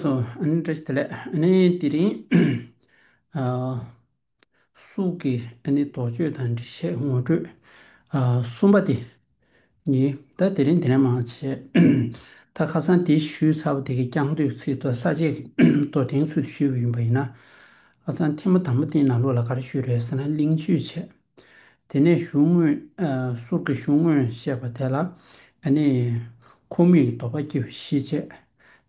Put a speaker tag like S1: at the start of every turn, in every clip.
S1: སོ་ཨནི་ཏྲ་ཏི་ལས་ཨནི་ཏི་རིང། སུག་གི་ཨནི་རྡོ་ཆོས་དང་འབྲི་བྱེད་ངོ་སྤྲོད། གསུམ་པ་དེ་ཉིད་ད་དེ་རིང་དེ་རིང་མ་བྱེད། ད་ཁ་སང་དེ་ཞུས་ཚར་བ་དེ་གི་རྐྱང་བསྡུས་ཚིག་ཏུ་ས་བཅད་དོ་དེང་ཚུལ་དུ་ཞུས་པ་ཡིན་པ་ཡིན་ན། ཁ་སང་ཐེངས་མ་དང་པོ་སྟེང་ན་ལོ་ལ་ག་རེ་ཞུས་རེད་ཟེར་ན་གླིང་ཆུས་བྱས། དེ་ནས་གཞུང་དངོས། ཟུར་གྱི་གཞུང་དངོས་བཤད་པ་དེ་ལ། ཨ་ནི། ཁུངས་མེད་ཀྱི་དོགས་པ་སྐྱེ་བའི་གཞི་བཅས།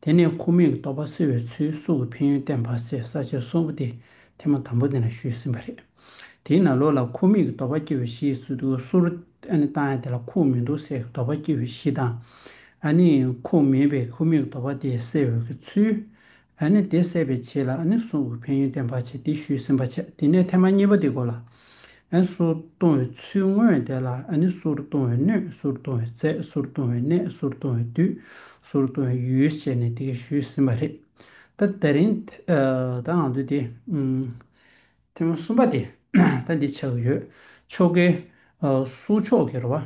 S1: དེ་ནས་ཁུངས་མེད་ཀྱི་དོགས་པ་སེལ་བའི་ཚུལ་གསུང་གི་ཕན་ཡོན་བསྟན་པ་སའི་ས་བཅད་གསུམ་པོ་དེ་ཐེངས་མ་དང་པོ་དེ་ལ་ཞུས་ཟིན་པ་རེད། དེས་ན་ལོ་ལ་ཁུངས་མེད་ཀྱི་དོགས་པ་སྐྱེ་བའི་གཞི་ཟུར། ཨ་ནི་བཏང་ཡང་དེ་ལ་ཁུངས་མེད་དུ་སེལ་གྱི་དོགས་པ་སྐྱེ་བའི་གཞི་དང། ཨ་ནི། ཁུངས་མེད་པའི་ཁུངས་མེད་ཀྱི་དོགས་པ་དེ་སེལ་འོས་ཀྱི་ཚུལ། ཨ་ནི་དེ་སེལ་བའི་ཆེད་ལ་ཨ་ནི་སུའུ་ཝུའུ་ཕེན་ཡོན་ཏན་བར་ཆད་དེ་ཞུས་ཟིན་པ་བྱས་དེ་ནས་ཐེངས་མ་གཉིས་པ་དེ་གོ་ལ་ཨན་སུར་གཏོང་བའི་ཚུལ་དངོས་དེ་ལ་ཨ་ནི་སུར་གཏོང་བའི་སྣོད་སུར་གཏོང་བའི་རྫས་སུར་གཏོང་བའི་གནས་སུར་གཏོང་བའི་དུས་སུར་གཏོང་བའི་ཡུལ་བྱས་ནས་དེ་གས་ཞུས་ཟིན་པ་རེད་ད་དེ་རིང་ད་ང་ཚོས་དེ་ཐེངས་མ་གསུམ་པ་དེ་ད་འདི་བྱ་གི་ཡོད་ཆོ་གའི་སུར་ཕྱོགས་ཀྱི་རོ་བ།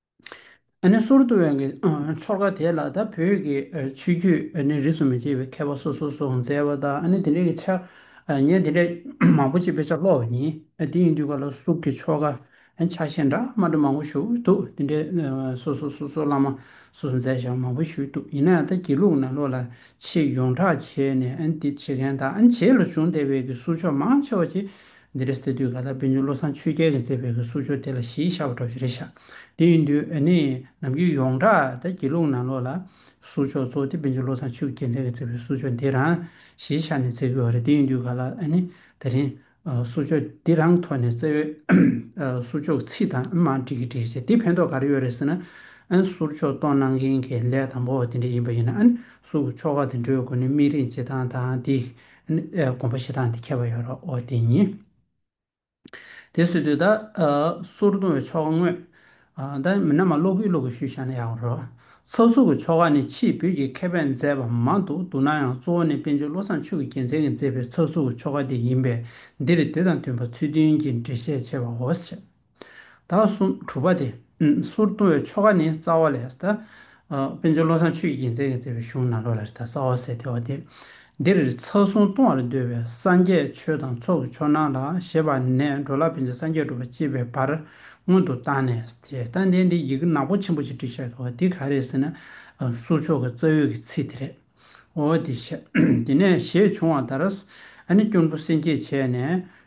S1: ནི་སོར་བསྡུ་བའི་གི་ཚོར་ཁ་དེ་ལ་ད་བོད་ཀྱི་ཆོས་བརྒྱུད་ནི་རིས་སུ་མི་ཆད་པའི་མཁས་པ་སོ་སོ་སོགས་མཛད་པ་དང་ནི་དེ་འདྲའི་གི་ཆ་ངས་དེ་འདྲའི་མང་པོ་ཅིག་དཔེ་ཆ་ཀློག་བ་ཡིན་དེ་ཡིན་དུས་ག་ལ་གཟུགས་ཀྱི་ཆོ་ག་ཆ་ཤས་འདྲ་མ་འདྲ་མང་པོ་བཞུགས་འདུག་དེ་འདྲའི་སོ་སོ་སོ་སོ་བླ་མ་སོ་སོ་མཛད་བཞག་མང་པོ་བཞུགས་འདུག་ཡིན་ན་ཡང་ད་དགེ་ལུགས་ནང་ལོགས་ལ་ཆེས་ཡོངས་གྲགས་བྱས་ནས་འདི་བྱེད་མཁན་དང་བྱེད་ལ་བྱུང་བསྡད་པའི་གི་གཟུགས་ཆོ་མང་ཆེ་བ་ཅིག་འདི་རེད་ཟེར་དུས་ག་ལ་དཔེ་ཉོ་བློ་བཟང་ཆོས་རྒྱལ་གྱིས་མཛད་པའི་གི་སུག་ཆོས་དེ་ལ་གཞིས་ཆགས་པ་འདྲ་བོ་ཞིག་རེད་ཤག་དེ་ཡིན་དུས་ཨ་ནེ་ནམ་རྒྱུན་ཡོངས་གྲགས་ད་དགེ་ལུང་ནང་ལོགས་ལ་གསུག་ཆོས་གཙོ་དེ་དཔེ་ཉོ་བློ་བཟང་ཆོས་རྒྱལ་མཛད་མཛད་པའི་གསུག་ཆོས་འདི་རང་གཞིས་ཆགས་ནས་མཛད་དགོས་བ་རེད་དེ་ཡིན་དུས་ག་ལ་ཨ་ནེ་ད་རིང་གསུག་ཆོས་འདི་རང་ཐོག་ནས་བཙལ་བས་གསུག་ཆོས་ཀྱི་ཚིག་དང་མ་འགྲིག་གི་འདྲིས་ཟེར་དེ་ཕན་ཐོག་ག་རེ་ཡོད་རེད་ཟེར་ན་ཨ་ནེ་གསུག་ཆོས་གཏོང་གནང་མཁན་གྱི་ལས་དང་པོ་བ་དེ་འདྲ་ཡིན་པ་ཡིན་ན་ཨ་ནེ་གསུག་གི་ཆོ་ག་དེ་འགྲོའི་སྒོ་ནས་དམིགས་རིང་བྱེད་སྟངས་དང་དེ་སྒོམ་པ་ཞེ་སྡང་དེ་ཁྱད་པར་ཡོད་རོའོ། དེ་ཉིད་དེ་བཟོད་དུས་ད་སོར་ལྟུང་བའི་ཆོ་ག་དངོས། ད་མི་ནག་མ་ཀློག་གུས་ཀློག་གི་ཞུས་བཞག་ན་ཡག་པོ་རོ། ཚགས་ཚུགས་ཀྱི་ཆོ་ག་ནི་ཕྱིས་བོད་ཀྱི་མཁས་པས་མཛད་པ་མང་དུ་འདུག་ན་ཡང་གཙོ་བོ་ནི་དཔལ་འབྱོར་བློ་བཟང་ཆོས་ཀྱི་རྒྱལ་མཚན་གྱིས་མཛད་པའི་ཚགས་ཚུགས་ཀྱི་ཆོ་ག་དེ་ཡིན་པས་འདིར་དེ་དང་མཐུན་པ་ཚུལ་མཐུན་གྱི་འགྲེལ་བཤད་བྱས་པའོ། དག་གསུམ་གྲུབ་པ་སྟེ། གསུར་བཏུང་བའི་ཆོ་ག་ནི་རྩ་བ་ལས། དཔལ་འབྱོར་བློ་བཟང་ཆོས་ཀྱི་རྒྱལ་མཚན་གྱིས་མཛད་པའི་གཞུང་ནཱ་རོ་ལ་རི་དྭགས་རྩ་བ་ཟས་སྟེར་བ་སྟེ། འདིར་ཚ་གསུང་བཏུང་བར་འདོད་པའི་སངས་རྒྱས་ཆོས་དང་ཚོགས་ཀྱི་ཆོག་སྣང་ལ་ཞེས་པ་ནས་འགྲོ་ལ་ཕན་ཚུན་སངས་རྒྱས་སྒྲུབ་པར་བཅས་པའི་བར་སྔོན་དུ་བཏང་ནས་དེ་ལྟ་བསྟན་ཏེ་ཡི་གེ་ནག་པོ་ཆེན་པོ་ཞེས་བྲིས་ཤར་གྱི་བ་འདི་ག་རེད་ཟེར་ན། གསུར་མཆོག་གི་རྩ་ཡོད་ཀྱི་ཚིག་དེ་རེད། འོ་དེ་བཤད། དེ་ནས་ཞེས་བྱུང་བ་ལྟར། ཨ་ནི་སྐྱོར་མགུ་སེམས་བསྐྱེད་བྱས་ནས།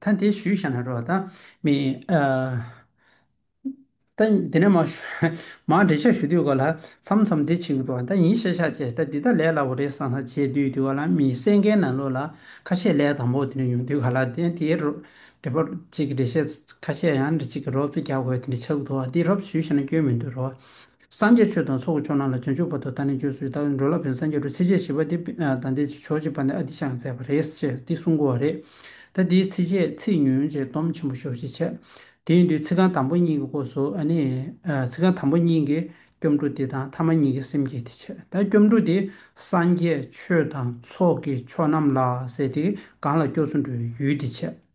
S1: ཐཱན་དེ་ཞུས་ཤ་ན་རོ། ཐཱན་མི་ཐཱན་དེ་ནས་མ་མ་འདྲེ་ཤ་ཞུ་དུས་གོ་ལ་མཚམས་མཚམས་དེ་ཆིག་རོ། ཐཱན་ཡིན་ཤ་ཤ་ཅེས་ཐཱན་འདི་ད་ལས་སླ་བོ་རེད་སང་སང་བྱས་དུས་དུས་ག་ལ་མི་སེ་མཁན་ན་ལོ་ལ་ཁ་ཤས་ལས་དང་པོ་དེ་ནས་ཡོང་དུས་ག་ལ་དེ་དེའི་རོ་འདྲེ་པོ་ཅིག་འདྲེ་ཤ་ཁ་ཤས་ཡང་འདྲེ་ཅིག་གི་རོབ་ཙེ་རྒྱག་དགོས་དེ་འདྲེ་ཆག་དུ་བ་འདི་རོབ་ཞུས་ཤ་ན་སྐྱོན་མི་འདུག་རོ། སངས་རྒྱས་ཆོས་དང་ཚོགས་ཀྱི་ཆོས་རྣམས་ལ་རྗེས་འཇུག་པ་དང་ད་ནི་ཁྱོད་སུའི་ལྟ་བའི་འགྲོས་ལ་ཕན་སངས་རྒྱས་བྲོ་ཚིགས་བཅད་བཞི་པ་འདི་དང་འདི་ཕྱོགས་བཅིབས་པ་ནས་ཨ་ཏི་ཤ་ཡང་མཛད་པ་རེད་ཅེས་འདི་གསུང་དགོས་བ་རེད། ད་འདིའི་ཚིགས་བཅད་ཚིག་ཉུང་ཅེས་སྡོམ་ཆེན་པོ་ཤོག་ཅེས་འཆད། དེའི་མདུན་ཚིག་རྐང་དང་པོ་གཉིས་ཀྱི་སྐོར་སོ་ཨ་ནི། ཚིག་རྐང་དང་པོ་གཉིས་ཀྱི་སྐྱོབ་འགྲོ་འདི་དང་ཐ་མ་གཉིས་ཀྱི་སེམས་བསྐྱེད་འདི་འཆད་ད་སྐྱོབ་འགྲོ་འདི་སངས་རྒྱས་ཆོས་དང་ཚོགས་ཀྱི་ཆོས་རྣམས་ལ་ཟེར་ཏེ་གང་ལ་སྐྱོབས་སུ་འགྲོའི་ཡུལ་འདི་འཆད།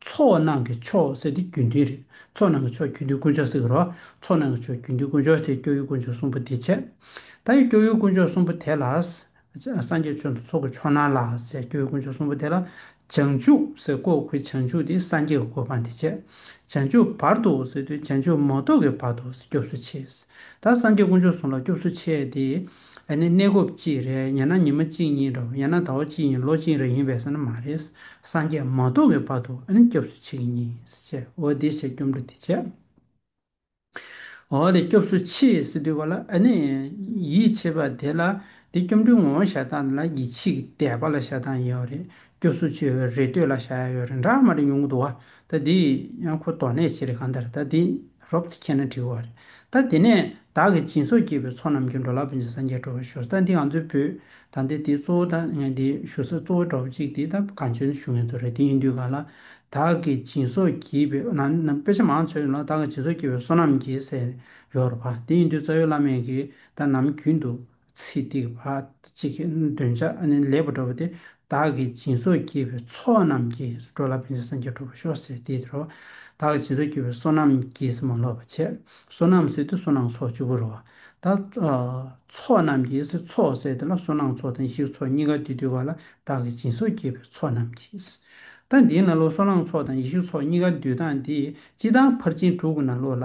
S1: ཚོགས་རྣམས་ཀྱི་མཆོག་བསྲེགས་ཏེ་རྒྱུན་མཐུན་རེད། ཚོགས་རྣམས་ཀྱི་མཆོག་རྒྱུན་མཐུན་དཀོན་མཆོག་བསྲེགས་རོགས། ཚོགས་རྣམས་ཀྱི་མཆོག་རྒྱུན་མཐུན་དཀོན་མཆོག་དེ་སྐྱོ་ཡུལ་དཀོན་མཆོག་གསུམ་པོ་དེ་ཆད། ད་ཡི་སྐྱོ་ཡུལ་དཀོན་མཆོག་གསུམ་པོ་དེ་ལ། སངས་རྒྱས་ཆོས་འདུ་ཚོགས་ཀྱི་མཆོག་སྣང་ལ་ཟེར་སྐྱོ་ཡུལ་དཀོན་མཆོག་གསུམ་པོ་དེ་ལ། བྱང་ཆུབ་སེ་བཀོད་ཁུ་བྱང་ཆུབ་དེ་སངས་རྒྱས་ཀྱི་གོ་འཕང་དེ་ཆད། བྱང་ཆུབ་བར་དོ་ཟེར་དུས་བྱང་ཆུབ་མ་གཏོགས་ཀྱི་བར་དོ་སྐྱོབས་སུ་ཆས། ད་སངས་རྒྱས་དཀོན་མཆོག་གསུམ་ལ་སྐྱོབས་སུ་ཆས་ཏེ། ཨ་ནི་གནས་སྐབས་གཅིག་རེད་ཡང་ན་ཉི་མ་གཅིག་ཡིན་འགྲོ་ཡང་ན་ཟླ་བ་གཅིག་ཡིན་ལོ་གཅིག་རེ་ཡིན་པས་ས་ན་མ་རེད་སངས་རྒྱས་མ་གཏོགས་པའི་བར་དུ་ཨ་ནི་སྐྱབས་སུ་མཆི་གི་མྱི་ཟེར་འོ་དེ་བྱས་སྐྱོབ་འགྲོ་དེ་བྱས། འོ་དེ་སྐྱོབས་སུ་མཆི་ཟེར་དུས་བར་ལ་ཨ་ནི་ཡིད་ཆེས་པ་དེ་ལ་དེ་སྐྱོབ་འགྲོའི་ངོ་བོ་ཞག་ཐང་ལ་གྱི་ཆིག་དད་པ་ལ་ཞག་ཐང་ཡོད་རེད་སྐྱོབས་སུ་མཆི་ཡོད་རེད་ལྟོས་ལ་ཞག་ཡོད་རེད་འདྲ་མ་འདྲ་ཉུང་ངུ་འདུག་ད་འདི་ཡང་ཁོ་དོགས་ནས་བྱེད་རེད་གང་ལྟར་ད་འདི་རོབ་ཙེ་ཁྱེར་ན་འགྲིག་བ་རེད་ད་དེ་ནས་བདག་གི་སྦྱིན་སོགས་བགྱིས་པའི་ཚོགས་རྣམས་ཀྱིས་འགྲོ་ལ་བོན་ཆེན་སངས་རྒྱས་བྲོ་བར་ཞུགས་ད་འདི་ང་ཚོའི་བོད་ད་འདི་འདི་གཙོ་བོ་ད་ངས་འདི་ཞུ་ས་གཙོ་བོ་འགྲོ་བ་གཅིག་འདི་ད་གང་བྱོན་ཞུ་ངེས་ཚོ་རེད་དེ་ཡིན་དུས་གང་ལ་བདག་གི་སྦྱིན་སོགས་བགྱིས་པའི་ནང་ན་དཔེ་ཆ་མང་ཚོད་ཡོད་ལ་བདག་གི་སྦྱིན་སོགས་བགྱིས་པའི་བསོད་ནམས་ཀྱིས་ཟས་ཡོད་རོ་བ་དེ་ཡིན་དུས་རྩ་ཡོད་བླ་མེད་ཀྱིས་ད་ནམ་རྒྱུན་དུ་ཚེ་སྡིག་པ་གཅིག་གི་འདོན་ཆ་ལེགས་པར་སྒྲོགས་པ་སྟེ། བདག་གི་སྦྱིན་སོགས་བགྱིས་པའི་ཚོགས་རྣམས་ཀྱིས་འགྲོ་ལ་བོན་ཆེན་སངས་རྒྱས་ཁྲོ་བོ་ཤོག་སེར་དེའི་རོ། བདག་གི་སྦྱིན་སོགས་བགྱིས་པའི་བསོད་ནམས་ཀྱིས་མ་ལོག་པར་བྱས། བསོད་ནམས་སེར་དེ་བསོད་ནམས་ཚོགས་བཅུ་པོའི་རོ། དང། ཚོགས་རྣམས་ཀྱིས་ཚོགས་སེར་དེ་ལ་བསོད་ནམས་ཚོགས་དང་ཡིག་ཚོགས་གཉིས་ཀ་དུས་དུས་བར་ལ་བདག་གི་སྦྱིན་སོགས་བགྱིས་པའི་ཚོགས་རྣམས་ཀྱིས། ཐ་དད་ན་ལོ་བསོད་ནམས་ཚོགས་དང་ཡིག་ཤུ་ཚོགས་གཉིས་ཀ་དུས་དང་དེ་སྤྱི་དང་ཕར་ཕྱིན་དྲུག་གི་ན་ལོ་ལ་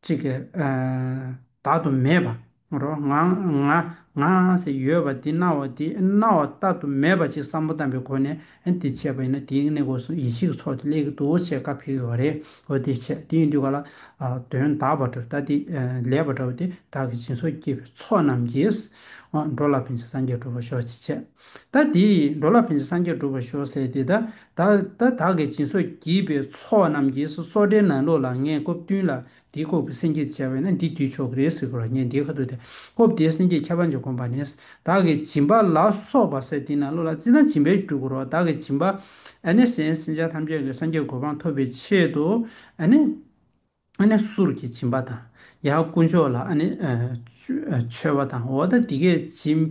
S1: གཅིག་གི། བདག་ཏུ་མེད་པ། རོ། ང། ང། ང། ཞེས་ཡོད་པ་དེ་སྣང་བ་དེ་སྣང་བ་ལྟ་ཏུ་མེད་པ་ཅིག་བསམ་བློ་བཏང་པའི་སྒོ་ནས་དེ་འཆད་པ་ཡིན་ན་དེའི་གནས་སྐོར་སོགས་ཡིད་ཆེས་ཀྱི་ཚོགས་དེ་ལས་ཀྱི་འདུ་བྱེད་བཀའ་འཕེལ་དགོས་པ་རེད། འོ་དེ་འཆད་དེ་ཡིན་དུས་ག་ལ། དོན་དག་པ་འདྲ་ལྟ་དེ་ལེགས་པ་འདྲ་བ་དེ་བདག་གི་སྦྱིན་སོགས་བསྐྱེད་པའི་ཚོགས་རྣམས་ཀྱིས། འགྲོ་ལ་ཕན་ཕྱིར་སངས་རྒྱས་བསྒྲུབ་པར་ཤོག་ཅེས་འཆད། ད་དེ་ཡིས་འགྲོ་ལ་ཕན་ཅིང་སངས་རྒྱས་འགྲུབ་པར་ཤོག་ཟེར་ཏེ། ད་བདག་གིས་སྦྱིན་སོགས་བགྱིས་པའི་ཚོགས་རྣམས་ཀྱིས་སོ་སོ་དྲན་ན་ལོ་ལ་ངས་སྐབས་བསྟུན་ལ་འདི་ལྐོག་གི་སེམས་བསྐྱེད་བྱས་པས་ན་འདི་བསྡུས་ཆོག་གི་རེད་ཟེར་གོ་ར་ངས་འདི་ཁ་ཐུག་སྟེ་སྐབས་དེའི་སེམས་བསྐྱེད་ཁྱད་པར་འབྱེད་གོམས་པ་ནི། བདག་གིས་སྦྱིན་པ་ལ་སོགས་པ་ཟེར་དེས་ན་ལོ་ལ་བརྩིས་ན་སྦྱིན་པས་འགྲུབ་གོ་ར་བདག་གིས་སྦྱིན་པ། ཨ་ནི། སེམས་ཅན་ཐམས་ཅད་ཀྱི་སངས་རྒྱས་གོ་འཕང་ཐོབ་པའི་ཆེད་དུ། ཨ་ནི། ཨ་ནི་གསུར་གྱིས་བྱིན་པ་དང། ཡང་དཀོན་མཆོག་ལ་ཨ་ནི་མཆོད་པ་དང་འོ་ད་འདི་སྐད་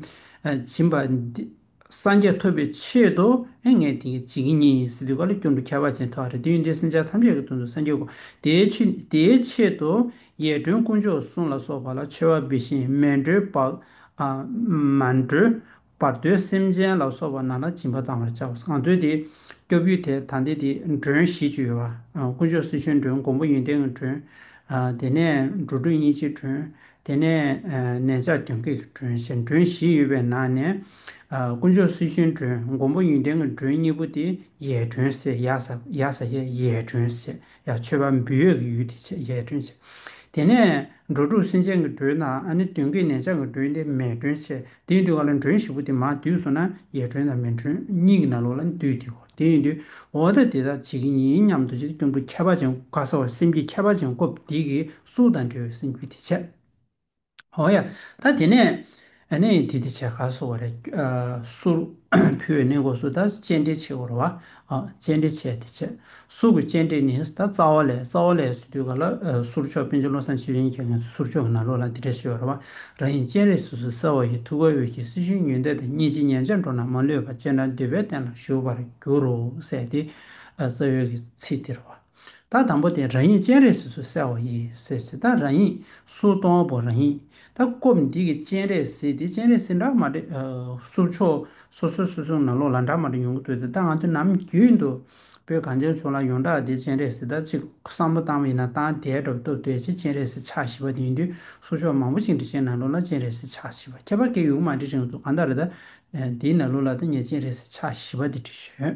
S1: ཅེས་བྱིན་པ། སངས་རྒྱས་ཐོབ་པའི་ཆེད་དུ་ཨེ་ངས་དེ་སྐད་ཅེས་ངེད་གཉིས་སྲིད་དུ་ག་ལ་སྐྱོ་འགྲོ་ཁྱད་པར་ཅན་ཐོག་རེ་དུས་འདིར་སེམས་ཅན་ཐམས་ཅད་ཀྱི་དོན་དུ་སངས་རྒྱས་དགོས། དེའི་ཆེད་དུ་ཡས་སྒྲོན་དཀོན་མཆོག་གསུང་ལ་སོགས་པ་ལ་མཆོད་པ་འབུལ་ཞིང་སྨན་སྒྲོལ་པདྨ་སྒྲོལ། བར་དོའི་སེམས་ཅན་ལ་སོགས་པ་ན་ལ་སྦྱིན་པ་བཏང་བར་བྱའོ་གང་འདོད་དེ་སྐྱོབ་ཡུལ་དེ་ད་འདི་དེ་མགྲོན་བཞི་བཅུ་ཡོད་པ། དཀོན་མཆོག་སྲི་ཞུའི་མགྲོན་འགོང་པོ་ཡོན་ཏན་གྱི་མགྲོན། དེ་ནས་འགྲོ་དྲུག་གཉིས་ཀྱི་མགྲོན། དེ་ནས་ནན་ཆགས་གྱོན་སྐད་ཀྱི་མགྲོན་ཞེས་མགྲོན་བཞི་ཡོད་པའི་ནང་ནས། དཀོན་མཆོག་སྲི་ཞུའི་མགྲོན་འགོང་པོ་ཡོན་ཏན་གྱི་མགྲོན་གཉིས་པོ་དེ་ཡའི་མགྲོན་ཟེར་ཡཱ་ས་ཡཱ་ས་ཡའི་མགྲོན་ཟེར། ཡང་མཆོད་པ་འབུལ་ཡོད་ཀྱི་ཡུལ་དེ་ཆེས་ཡས་སྒྲོན་ཆེ། དེ་ནས་འགྲོ་དྲུག་སེམས་ཅན་གྱི་སྒྲོན་དང་ནི་བདུན་གྱི་ནས་ཆང་གི་སྒྲོན་ཏེ་མས་སྒྲོན་ཆེ། དེ་ཡིན་དུས་གང་ལ་མགྲོན་བཞི་པོ་དེ་མ་འདུས་སོ་ན་ཡས་སྒྲོན་དང་མས་སྒྲོན་གཉིས་ཀྱི་ནང་ལོགས་ལ་འདུས་ཏེ་གོ། དེ་ཡིན་དུས་འོ་ད་དེ་དག་ཇི་གི་ཡིན་སྙམ་དུ་ཅི་སྟེ་ཀྱང་དུ་ཁྱད་པར་ཅན་དགའ་ས་བར་སེམས་ཀྱི་ཁྱད་པར་ཅན་སྐོབས་དེ་གིས་གཟུགས་དང་འབྲེལ་བའི་སེམས་རྒྱུད་དེ་ཆེ། ཨོ་ཡ། ད་དེ་ནས། ནས་དེ་དེ་བྱས་ག་སོ་བ་རེད། སུར། ཕུལ་བའི་གནས་གོ་སུ་ད་སྤྱན་འདྲེན་བྱེད་གོ་ར་བ། སྤྱན་འདྲེན་བྱས་དེ་བྱས། སུ་གུ་སྤྱན་འདྲེན་ནས་ད་རྩ་བ་ལས་རྩ་བ་ལས་སུ་དུས་ག་ལ་སུར་མཆོག་དཔོན་ཆེན་བློ་བཟང་ཆེ་བཞེན་གྱི་ངས་སུ་སུར་མཆོག་གི་ན་ལོ་ལ་དེ་འདྲ་བྱེད་བ་ར་བ། རང་ཡིན་སྤྱན་རས་སུ་སུ་གསལ་བ་ཡི་ཐུགས་ཀ་འོད་ཀྱི་སྲི་ཞུན་ཉུལ་འདེབས་དང་གཉིས་ཅི་ཉན་བྱ་འགྲོ་ན་མ་ལུས་པ་སྤྱན་དྲངས་འདུས་པའི་སྟན་ལ་བཞུགས་པར་འགྱུར་རོ་ཟེར་ཏེ། རྩ་བའི་གི་ཚིག་དེ་ར་བ། ད་དང་པོ་དེ་རང་ཡིག་སྤྱན་རས་གཟིགས་སུ་གསལ་བ་ཡིན་ཟེར་ཟེར་ད་རང་ཡིག་སུ་སྟོང་པོ་རང་ཡིག་ད་སྐོབས་འདི་གི་སྤྱན་རས་གཟིགས་དེ་སྤྱན་རས་གཟིགས་འདྲ་མ་རེད་གསུབ་ཆོག་སོ་སོའི་སོ་སོའི་ནང་ལོགས་ལ་འདྲ་མ་རེ་ཡོང་གི་འདུག་ད་ང་ཚོ་ནམ་རྒྱུན་དུ་བོད་གངས་ཅན་ཕྱོགས་ལ་ཡོངས་གྲགས་དེ་སྤྱན་རས་གཟིགས་ད་ཅིག་བསམ་བློ་བཏང་བ་ཡིན་ན་ད་དེའི་སྒྲོབ་ཏོ་དོད་ཅིག་སྤྱན་རས་གཟིགས་ཕྱག་བཞི་པ་དེ་ཡིན་དུས་སུ་ཕྱོགས་མང་པོ་ཞིག་འབྲི་བྱའི་ནང་ལོགས་ལ་སྤྱན་རས་གཟིགས་ཕྱག་བཞི་པ་ཁྱད་པར་ཀེ་ཡུག་མ་འབྲི་རིང་དུ་གང་ལྟར་ད་དེའི་ནང་ལོགས་ལ་ད་ངས་སྤྱན་རས་གཟིགས་ཕྱག་བཞི་པ་དེ་བྲིས་ཞོད་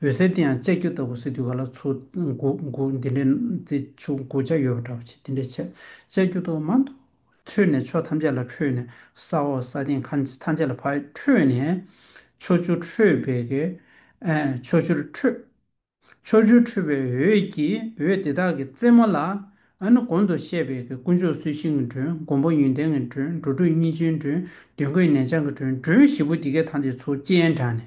S1: འོད་ཟེར་དེའང་ལྕགས་ཀྱུ་ལྟ་བུ་སེ་དུས་ག་ལ་ཆུ་འགུག་འགུག་འདི་འདྲའི་རྩི་ཆུ་འགུག་བྱ་ཡོད་པ་འདྲ་བ་ཆེ་འདི་འདྲའི་ཆེ། ལྕགས་ཀྱུ་ཐོག་མ་མདོ་ཁྲོད་ནས་ཕྱོགས་ཐམས་ཅད་ལ་འཕྲོས་ནས་ས་འོག་ས་སྟེང་ཁ་ཐམས་ཅད་ལ་འཕྲོས་ནས། ཕྱོགས་བཅུར་འཕྲོས་པས། ཕྱོགས་བཅུར་འཕྲོས། ཕྱོགས་བཅུར་འཕྲོས་པའི་འོད་ཀྱིས་འོད་དེ་དག་གི་རྩེ་མོ་ལ། གོང་དུ་བཤད་པའི་དཀོན་མཆོག་གསོལ་ཤིང་གི་འགྲོས་མགོན་པོ་ཡོན་ཏན་གྱི་འགྲོས་འགྲོ་དྲུག་གཉིས་ཆེན་འགྲོས་བདུན་གོས་ནན་ཆང་གི་འགྲོས་འགྲོས་བཞི་པོ་འདི་གའི་ཐང་ཆེན་ཚོ་ཅན་དྲངས་ནས།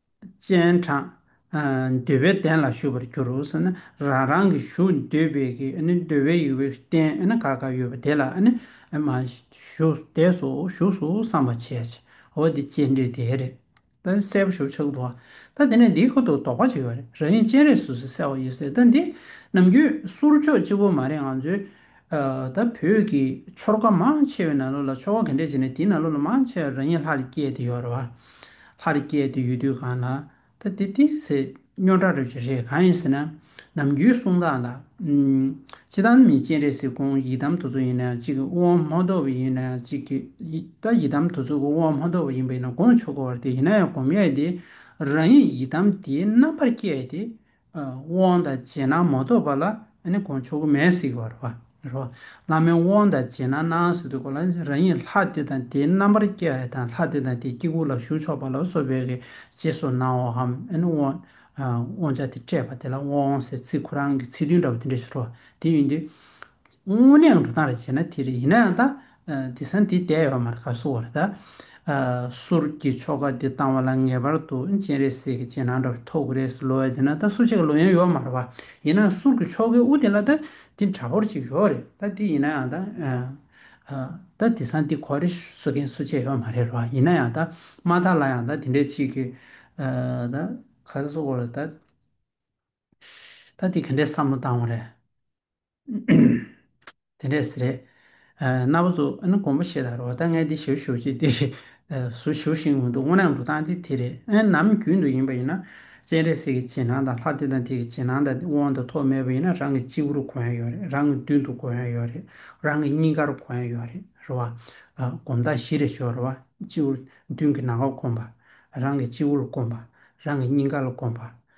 S1: སྤྱན་དྲངས། འདོད་པའི་གདན་ལ་བཞུགས་པར་གྱུར་ཟེར་ན་རང་རང་གི་བཞུགས་འདོད་པའི་གི་འདོད་པའི་ཡུལ་བའི་རྟེན་ག་ག་ཡོད་པ་དེ་ལ་བཞུགས་འདས་སུ་བཞུགས་སུ་བསམ་པར་བྱས། འོ་དེ་སྤྱན་འདྲེན་དེ་རེད། ད་གསལ་པོ་ཞུ་ཆོག་འདུག་ད་དེ་ནས་འདིའི་ཁོ་ཐུག་དོགས་པ་ཅིག་ཡོད་རེད་རང་ཉིད་སྤྱན་རས་སུ་ཟེར་ས་ཡོད་ཟེར་ད་འདི་ནམ་རྒྱུན་གསུར་ཆོག་གཅིག་པོ་མ་རེད་ང་ཚོའི་ད་བོད་ཀྱི་ཆོལ་ཁ་མང་ཆེ་བའི་ནང་ལོགས་ལ་ཆོལ་ཁ་ག་འདྲས་བྱས་ནས་དེའི་ནང་ལོགས་ལ་མང་ཆེ་བ་རང་ཉིད་ལྷ་རེ་སྐྱེས་དེ་ཡོད་རེད་བ། ལྷ་རེ་སྐྱེས་དེ་ཡོད་དུས་གང་ལ། ད་དེ་དེ་ཟེར་སྨྱོ་འདྲ་རེད་བྱས་རེད་གང་ཡིན་ཟེར་ན། ནམ་རྒྱུན་གསུང་སྟངས་ལ། ཅི་ད་མི་སྤྱན་རས་གཟིགས་ཁོང་ཡི་དམ་དུ་ཚོད་ཡིན་ན་ཅིག་དབང་མོ་རྡོ་བ་ཡིན་ན་ཅིག་ད་ཡི་དམ་དུ་ཚོད་ཁོང་དབང་མོ་རྡོ་བ་ཡིན་པས་ན་དགོངས་ཆོག་གོ་བར་དེ་ཡིན་ན་ཡང་གོམས་ཡས་དེ་རང་ཉིད་ཡི་དམ་དེའི་རྣམ་པར་སྐྱེས་དེ་དབང་དང་བྱས་ན་མ་གཏོགས་པ་ལ་ནི་གོང་ཆོག་གི་མེད་སྲིད་པར་བར་རོ། བླ་མའི་དབང་དང་བྱས་ན་སྣང་སྲིད་དུ་གོ་ལ་རང་ཉིད་ལྷ་དེ་དང་དེའི་རྣམ་པར་སྐྱེ་བ་དང་ལྷ་དེ་དང་དེའི་དཀྱིལ་འཁོར་ལ་ཞུགས་ཆོག་པ་ལ་སོགས་པའི་རྗེས་སུ་གནང་བའམ་དབང་ཆ་དེ་སྤྲད་པ་དེ་ལ་དབང་ཟེར་ཚིག་གོ་རང་གི་ཚིག་དོན་འདྲ་པོ་དེ་འདྲ་ཞིག་རོ། དེ་ཡིན་དུས། དངོས་གནས་འགྲོ་སྟངས་རེ་བྱས་ན་དེ་རེད་ཡིན་ན་ཡང་ད་དེ་སང་དེ་བསྡད་ཡོད་མ་རེད་ག་སུ་བ་རེད་ད། ཟུར་གྱི་ཆོ་ག་དེ་བཏང་བ་ལ་ངེས་པར་དུ་སྤྱན་རས་གཟིགས་ཀྱི་སྤྱན་ནང་འདྲ་བ་ཐོབ་གི་རེད་ཟེར་ལོ་ཡ་དེ་ན་ད་སུ་ཅིག་གི་ལོ་ཡན་ཡོད་མ་རེད་བ། ཡིན་ན་ཟུར་གྱི་ཆོ་གའི་དབུ་དེ་ལ་ད་དེ་འདྲ་བོར་ཅིག་ཡོད་རེད་ད་དེ་ཡིན་ན་ཡང་ད། ད་དེ་སང་དེ་གོ་རེ་ཟོ་མཁན་སུ་ཅིག་ཡོད་མ་རེད་བ་ཡིན་ན་ཡང་ད་མ་དག་ལ་ཡང་ད་དེ་འདྲས་ཅིག་གི་ད་ག་སུ་བ་རེད་ད། ད་དེ་ག་འདྲས་བསམ་བློ་བཏང་བ་རེད། དེ་འདྲས་སི་རེད། རྣ་བ་ཟུག་ཨ་ནི་དགོང་པོ་ཞེས་དང་རོ་ད་ངས་འདི་ཞུ་ཞུ་ཅིག་དེ་རེད། ཟུ་ཞུ་ཞིག་མི་འདུག་སྔོ་ནག་འབྲུ་ཐང་དེ་དེ་རེད་ཨེ་ནམ་རྒྱུན་དུ་ཡིན་པ་ཡིན་ན། སྤྱན་རས་གཟིགས་ཀྱི་བྱིན་ཐང་དང་ལྷ་དེ་དང་དེ་གི་བྱིན་ཐང་དང་དབང་དང་ཐོབ་མེད་པ་ཡིན་ན་རང་གི་སྤྱི་བོར་གོ་ཡ་ཡོད་རེད་རང་གི་མདུན་དུ་གོ་ཡ་ཡོད་རེད་རང་གི་སྙིང་གར་གོ་ཡ་ཡོད་རེད་རེད་བ། སྒོམ་ཐང་བཞི་རེ་ཞོག་རེད་བ། སྤྱི་བོར་མདུན་གི་ནང་ལ་གོམས་པ། རང་གི་སྤྱི་བོ་ལ་གོམས་པ། རང་གི་སྙིང་ག་ལ་གོམས་པ།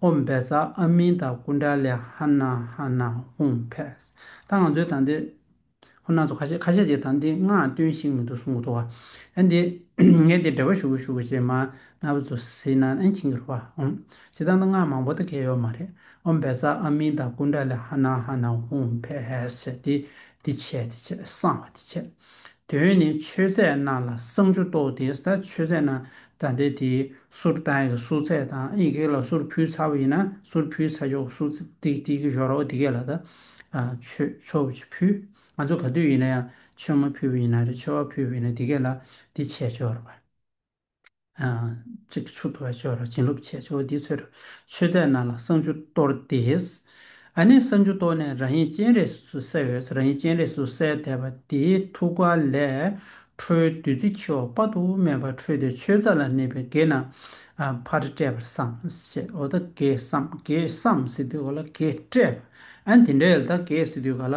S1: ཧོམ་བྷེ་ས་ཨ་མིན་ད་ཀུན་དྲ་ལེ་ཧ་ན་ཧ་ན་ཧོམ་བྷེ་ས། ད་ང་ཚོའི་དང་དེ། ཁོ་ནང་ཚོ་ཁ་ཤས་ཁ་ཤས་ཀྱིས་དང་དེ་ངག་སྟོན་ཞིག་མི་འདུག་གསུང་གི་འདུག་བ། ཨན་དེ། ངས་དེ་འབྲེལ་བ་ཞུ་གི་ཞུ་གི་ཞེས་མ་ན་བུ་ཚོ་ཟེར་ན་ཨན་ཁྱིང་གིར་བ་ཨོང། བྱེད་སྟངས་དང་ངག་མང་པོ་དེ་གས་ཡོད་མ་རེད། ཧོམ་བྷེ་ས་ཨ་མིན་ད་ཀུན་དྲ་ལེ་ཧ་ན་ཧ་ན་ཧོམ་བྷེ་ས་དེ། དེ་བྱས་དེ་བྱས་སང་བ་དེ་བྱས། དོན་ནི་མཆོད་རྫས་རྣམས་ལ་བསང་ཆུ་གཏོར་ཏེ་ས་མཆོད་རྫས་རྣམས་བདའ་འདེད་དེ་སོར་རྟ་ཡི་སོ་ཚད་དང་ཨི་གེག་ལ་སོར་ཕུལ་ཚར་བ་ཡིན་ན་སོར་ཕུལ་ཚར་ཆོག་སོ་ཏིག་ཏིག་གི་ཞོར་རོ་དེ་གས་ལ་ད་མཆོད་ཆོ་བྱི་ཕུལ་ང་ཚོ་ག་དུས་ཡིན་ན་ཡང་མཆོད་མ་ཕུལ་བ་ཡིན་ན་རེ་མཆོད་བ་ཕུལ་བ་ཡིན་ན་དེ་གས་ལ་དེ་བྱས་ཆོག་རེ་བ། གཅིག་གི་ཆུ་དོར་བའི་ཆོས་ར་བྱིན་རློབ་བྱས་ཆོས་འདིའི་ཚོད་དུ་ཆོས་རྫས་རྣམས་ལ་བསང་ཆུ་གཏོར་ཏེ། ཨ་ནི་བསང་ཆུ་གཏོར་ནས་རང་ཡིད་སྤྱན་རས་སུ་གསལ་བའི་ས་རང་ཡིད་སྤྱན་རས་སུ་གསལ་བལྟས་པ་དེའི་ཐུགས་ཀ་ལས་འཕྲོའི་བདུད་རྩི་འཁྱིལ་བ་དཔག་ཏུ་མེད་པ་འཕྲོས་ཏེ་ཆོས་རྫས་ལ་གནས་པའི་བགེགས་རྣམས་ཕར་བསྐྲད་པར་བསམ་ཞེས་འོ་ད་གེ་བསམ་གེ་བསམ་སི་ཏུས་ག་ལ་གེ་བསྐྲད། ཨ་ནི་དེ་འདྲའི་ཡལ་ད་གེ་སི་ཏུས་ག་ལ་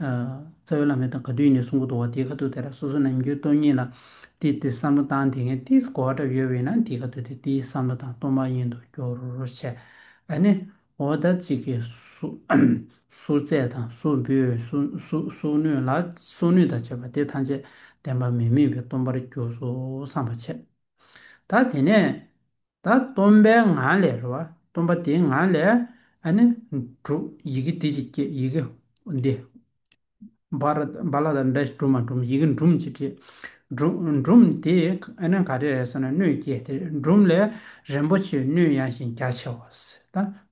S1: རྩ་བའི་བླ་མའི་དང་ག་དུས་ཡིན་ནའི་གསུང་གོ་དོ་བ་དེའི་ཁ་ཐུག་དེ་ར་སོ་སོ་ནམ་རྒྱུན་སྟོང་ཉིད་ལ་དེ་དེ་བསམ་བློ་བཏང་དེ་ངས་དེ་གོ་བ་འདྲ་ཡོད་བས་ན་དེའི་ཁ་ཐུག་དེ་དེའི་བསམ་བློ་དང་སྟོང་པ་ཉིད་དུ་འགྱུར་བྱས་ཨ་ནི་འོ་ད་ཅིག་གིས་ཟུར་བཙས་དང་ཟུར་འབུད་སོགས་ནུས་ལ་སོགས་ནུས་དང་བྱས་པ་དེ་ཐམས་ཅད་བདེན་པ་མི་དམིགས་པའི་སྟོང་པར་གྱུར་སོ་བསམ་པར་བྱས། ད་དེ་ནས། ད་སྟོན་པའི་ངང་ལས་རོལ་བ་སྟོན་པ་དེའི་ངང་ལས་ནི་གྲུབ། ཡི་གེ་དེ་ཅིག་སྐྱེས་ཡི་གེ་འདི། བ་ལ་དང་འདྲ་ཞིང་གྲུབ་མ་གྲུབ་ཡི་གེ་འབྲུམ་ཅིག་སྐྱེས། འབྲུམ་དེ་ག་རེ་རེད་ཟེར་ན་སྣོད་སྐྱེས་དེ་འབྲུམ་ལས་རིན་པོ་ཆེའི་སྣོད་ཡངས་ཤིང་རྒྱ་ཆེ་བ།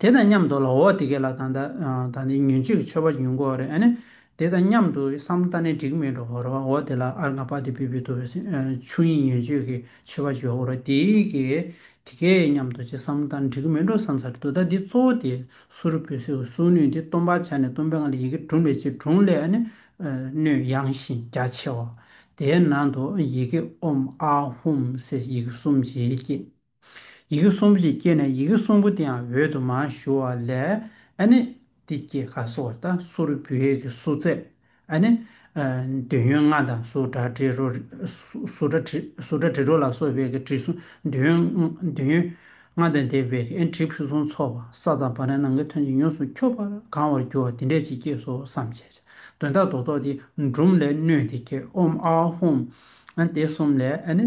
S1: དེ་དང་མཉམ་དུ་ལ་འོ་དེ་གས་ལ་དང་ད་ནི་ཉོན་ཅིག་མཆོད་པ་ཉོན་གོ་རེ་ཨཱ་ནི་དེ་དང་མཉམ་དུ་སམ་ད་ནི་འགྲིག་མེད་འགྲོ་ར་འོ་དེ་ལ་ཨར་ང་པ་དེ་པི་བི་དུ་བས་ཆུ་ཡིན་ཉོན་ཅིག་གས་མཆོད་པ་བྱོས་འོ་ར་དེ་གས་དེ་གས་མཉམ་དུ་བྱས་སམ་ད་ནི་འགྲིག་མེད་འགྲོ་བསམ་ས་རེ་དུ་ད་འདི་གཙོ་བོ་དེ་སུ་རུ་བོས་སེའུ་སུའུ་ནུས་འདི་སྟོན་པར་བྱ་ནས་སྟོན་པའི་ང་ལ་ཡི་གེ་དྲུང་ལས་ཅི་དྲུང་ལས་ཨཱ་ནི་སྣོད་ཡངས་ཤིང་རྒྱ་ཆེ་བ་དེའི་ནང་དུ་ཡི་གེ་ཨོམ་ཨཱ་ཧུམ་སེ་ཡི་གེ་གསུམ་གྱིས་བསྐྱེད། ཡི་གེ་གསུམ་པོ་ཞིག་སྐྱེས་ནས་ཡི་གེ་གསུམ་པོ་དེའང་འོད་དུ་མ་ཞུ་བ་ལས་ཨ་ནི། འདི་སྐྱེས་ཁ་གསོ་བར་དང་སུ་རུ་བུད་ཡས་ཀྱི་སུ་བཙས་ཨ་ནི། འདོད་ཡོན་ལྔ་དང་སུ་དྲ་དྲི་རོ། སུ་དྲ་དྲི་སུ་དྲ་དྲི་རོ་ལ་སོགས་བས་ཀྱི་དྲི་བསུང་འདོད་ཡོན་འདོད་ཡོན་ལྔ་དང་འདས་བས་ཀྱི་ཨན་དྲི་བསུང་ཚོགས་པ་ས་དང་བ་རན་ནང་གི་ཐོན་ཅིང་ཡོངས་སུ་འཁྱོག་པར་གང་བར་འགྱུར་བ་དེ་འདྲས་ཅིག་སྐྱེས་སོ་བསམ་བྱས། ཅི་དོན་དག་རྡོ་ཐོགས་ཏེ་འབྲུམ་ལས་སྣོད་དེ་སྐྱེས་ཨོམ་ཨའོ་ཧོམ། དེ་གསུམ་ལས་ཨ་ནི།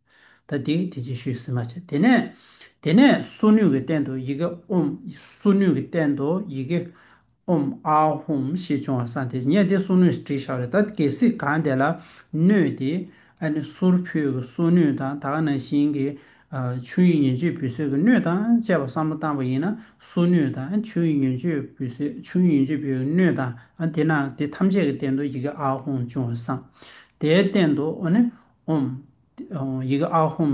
S1: ད་དེ་དེ་ཅི་ཞུས་ཟེར་མ་བྱ། དེ་ནས། དེ་ནས་སུ་ནུས་ཀྱི་སྟེང་དུ་ཡི་གེ་ཨོམ། སུ་ནུས་ཀྱི་སྟེང་དུ་ཡི་གེ། ཨོམ་ཨ་ཧོམ་ཞེས་བྱུང་བ་སང་དེ་ཉེས་དེ་སུ་ནུས་བྲིས་ཤག་རེད་ད་གལ་སྲིད་གང་དེ་ལ་གནོད་དེ། ཨ་ནི་སུར་ཕུད་ཀྱི་སུ་ནུས་དང་ད་ག་ནང་བཞིན་གྱི། ཆུ་ཡི་ཉོན་ཆུས་བུད་སོད་ཀྱི་སྣོད་དང་བཅས་པ་བསམ་བློ་བཏང་བ་ཡིན་ན་སུ་ནུས་དང་ཆུ་ཡི་ཉོན་ཆུས་བུད་སོད་ཆུ་ཡི་ཉོན་ཆུས་བུད་ཀྱི་སྣོད་དང་དེ་ནང་དེ་ཐམས་ཅད་ཀྱི་སྟེང་དུ་ཡི་གེ་ཨ་ཧོམ་བྱུང་བ་སང། དེའི་སྟེང་དུ་ཨོ་ནི་ཨོམ། ཡི་གེ་ཨ་ཧོམ།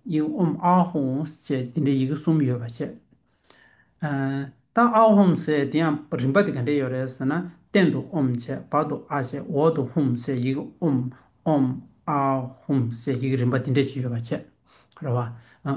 S1: ཡིག་ཨོམ་ཨ་ཧོམས་བཅས་འདི་འདྲའི་ཡི་གེ་གསུམ་ཡོད་པ་བཤད། ད་ཨ་ཧོམ་ཟེར་དེ་ཡང་རིམ་པ་དེ་ག་འདྲས་ཡོད་རེད་ཟེར་ན་སྟེང་དུ་ཨོམ་བྱས་བར་དུ་ཨ་བྱས་འོག་ཏུ་ཧོམ་ཟེར་ཡི་གེ་ཨོམ་ཨོམ་ཨ་ཧོམ་ཟེར་ཡི་གེ་རིམ་པ་འདི་འདྲས་ཤིག་ཡོད་པ་བཤད། རེད་བ།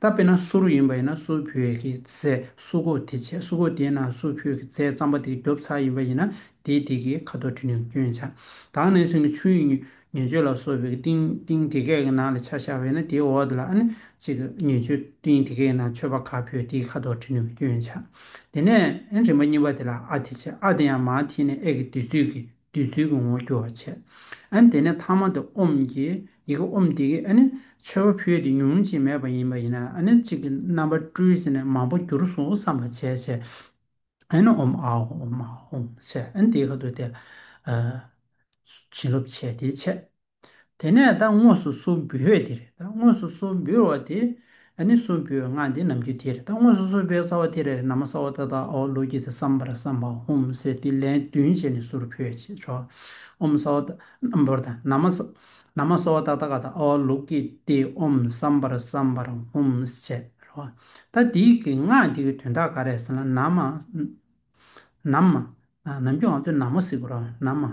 S1: ད་དཔེར་ན་སུ་རུ་ཡིན་པ་ཡིན་ན་སུ་བོད་ཀྱི་རྫས་སུ་གོ་དེ་བྱས་སུ་གོ་དེའི་ནང་སུ་བོད་ཀྱི་རྫས་རྩམ་པ་དེ་རྒྱོབ་ཚར་ཡིན་པ་ཡིན་ན་དེའི་དེ་གའི་ཁ་དོག་དྲི་ནི་སྐྱོན་ཆག་དྭངས་གནས་ཚུལ་ནི་ཆུ་ཡི་ཉེར་སྤྱོད་ལ་སོགས་པའི་གཏིང་གཏིང་དེ་གའི་ནང་ལ་ཆ་བཞག་པས་ན་དེའི་འོག་དེ་ལ་ཨ་ནི་གཅིག་གི་ཉེར་སྤྱོད་གཏིང་དེ་གའི་ནང་མཆོད་པ་ཁ་བོད་དེའི་ཁ་དོག་དྲི་ནི་སྐྱོན་ཆག་དེ་ནས་རིམ་པ་གཉིས་པ་དེ་ལ་ཨ་དེ་བྱས་ཨ་དེ་ཡང་མ་དེ་ནས་ཨེ་གི་དུས་ཚོད་ཀྱི་བདུད་རྩིའི་གོང་བུ་རྒྱུ་བར་བྱེད། ཨ་ནི་དེ་ནས་ཐ་མ་དེ་ཨོམ་གྱི་ཡི་གེ་ཨོམ་དེ་གིས་ཨ་ནི་མཆོད་པ་ཕུལ་ཏེ་ཉུང་ཅིག་མེད་པ་ཡིན་པ་ཡིན་ན་ཨ་ནི་གཅིག་གི་རྣམ་པར་སྤྲུལ་ཟེར་ནས་མང་པོ་འགྱུར་སོང་བསམ་པར་བྱས་བྱས། ཨ་ནི་ཨོམ་ཨཱ་ཧོམ་ཨཱ་ཧོམ་ཟེར་ཨ་ནི་དེའི་ཁ་ཏུ་དེ། བྱིན་རླབས་བྱས་དེའི་ཕྱེད། དེ་ནས་ད་དངོས་སུ་སུ་འབུལ་བས་དེ་རེད་ད་དངོས་སུ་སུ་འབུལ་བ་དེ་ནི་སུ་འབུལ་བའི་སྔགས་འདི་ནམ་རྒྱུན་དེ་རེད་ད་དངོས་སུ་སུ་འབུལ་བའི་རྩ་བ་དེ་རེད་ནམ་མ་ས་བ་ད་ད་ཨོ་ལོ་ཀྱི་དེ་བསམ་པར་བསམ་པ་ཧོམ་སེ་ཏི་ལན་བདུན་བྱས་ནས་སུར་བུད་བྱས་ཆོག་ཨོམ་ས་བ་ད་ནམ་བོར་དང་ནམ་མ་ནམ་མ་ས་བ་ད་ད་ག་ད་ཨོ་ལོ་ཀི་ཏི་ཨོམ་བསམ་པར་བསམ་པར་ཧོམ་བྱས་རོ། ད་འདི་གི་སྔགས་འདི་གི་དོན་དག་ག་རེད་ཟེར་ན་ནམ་མ་ནམ་མ་ནམ་རྒྱུན་ང་ཚོས་ནམ་མོ་ཟེར་གི་རོ་ནམ་མ།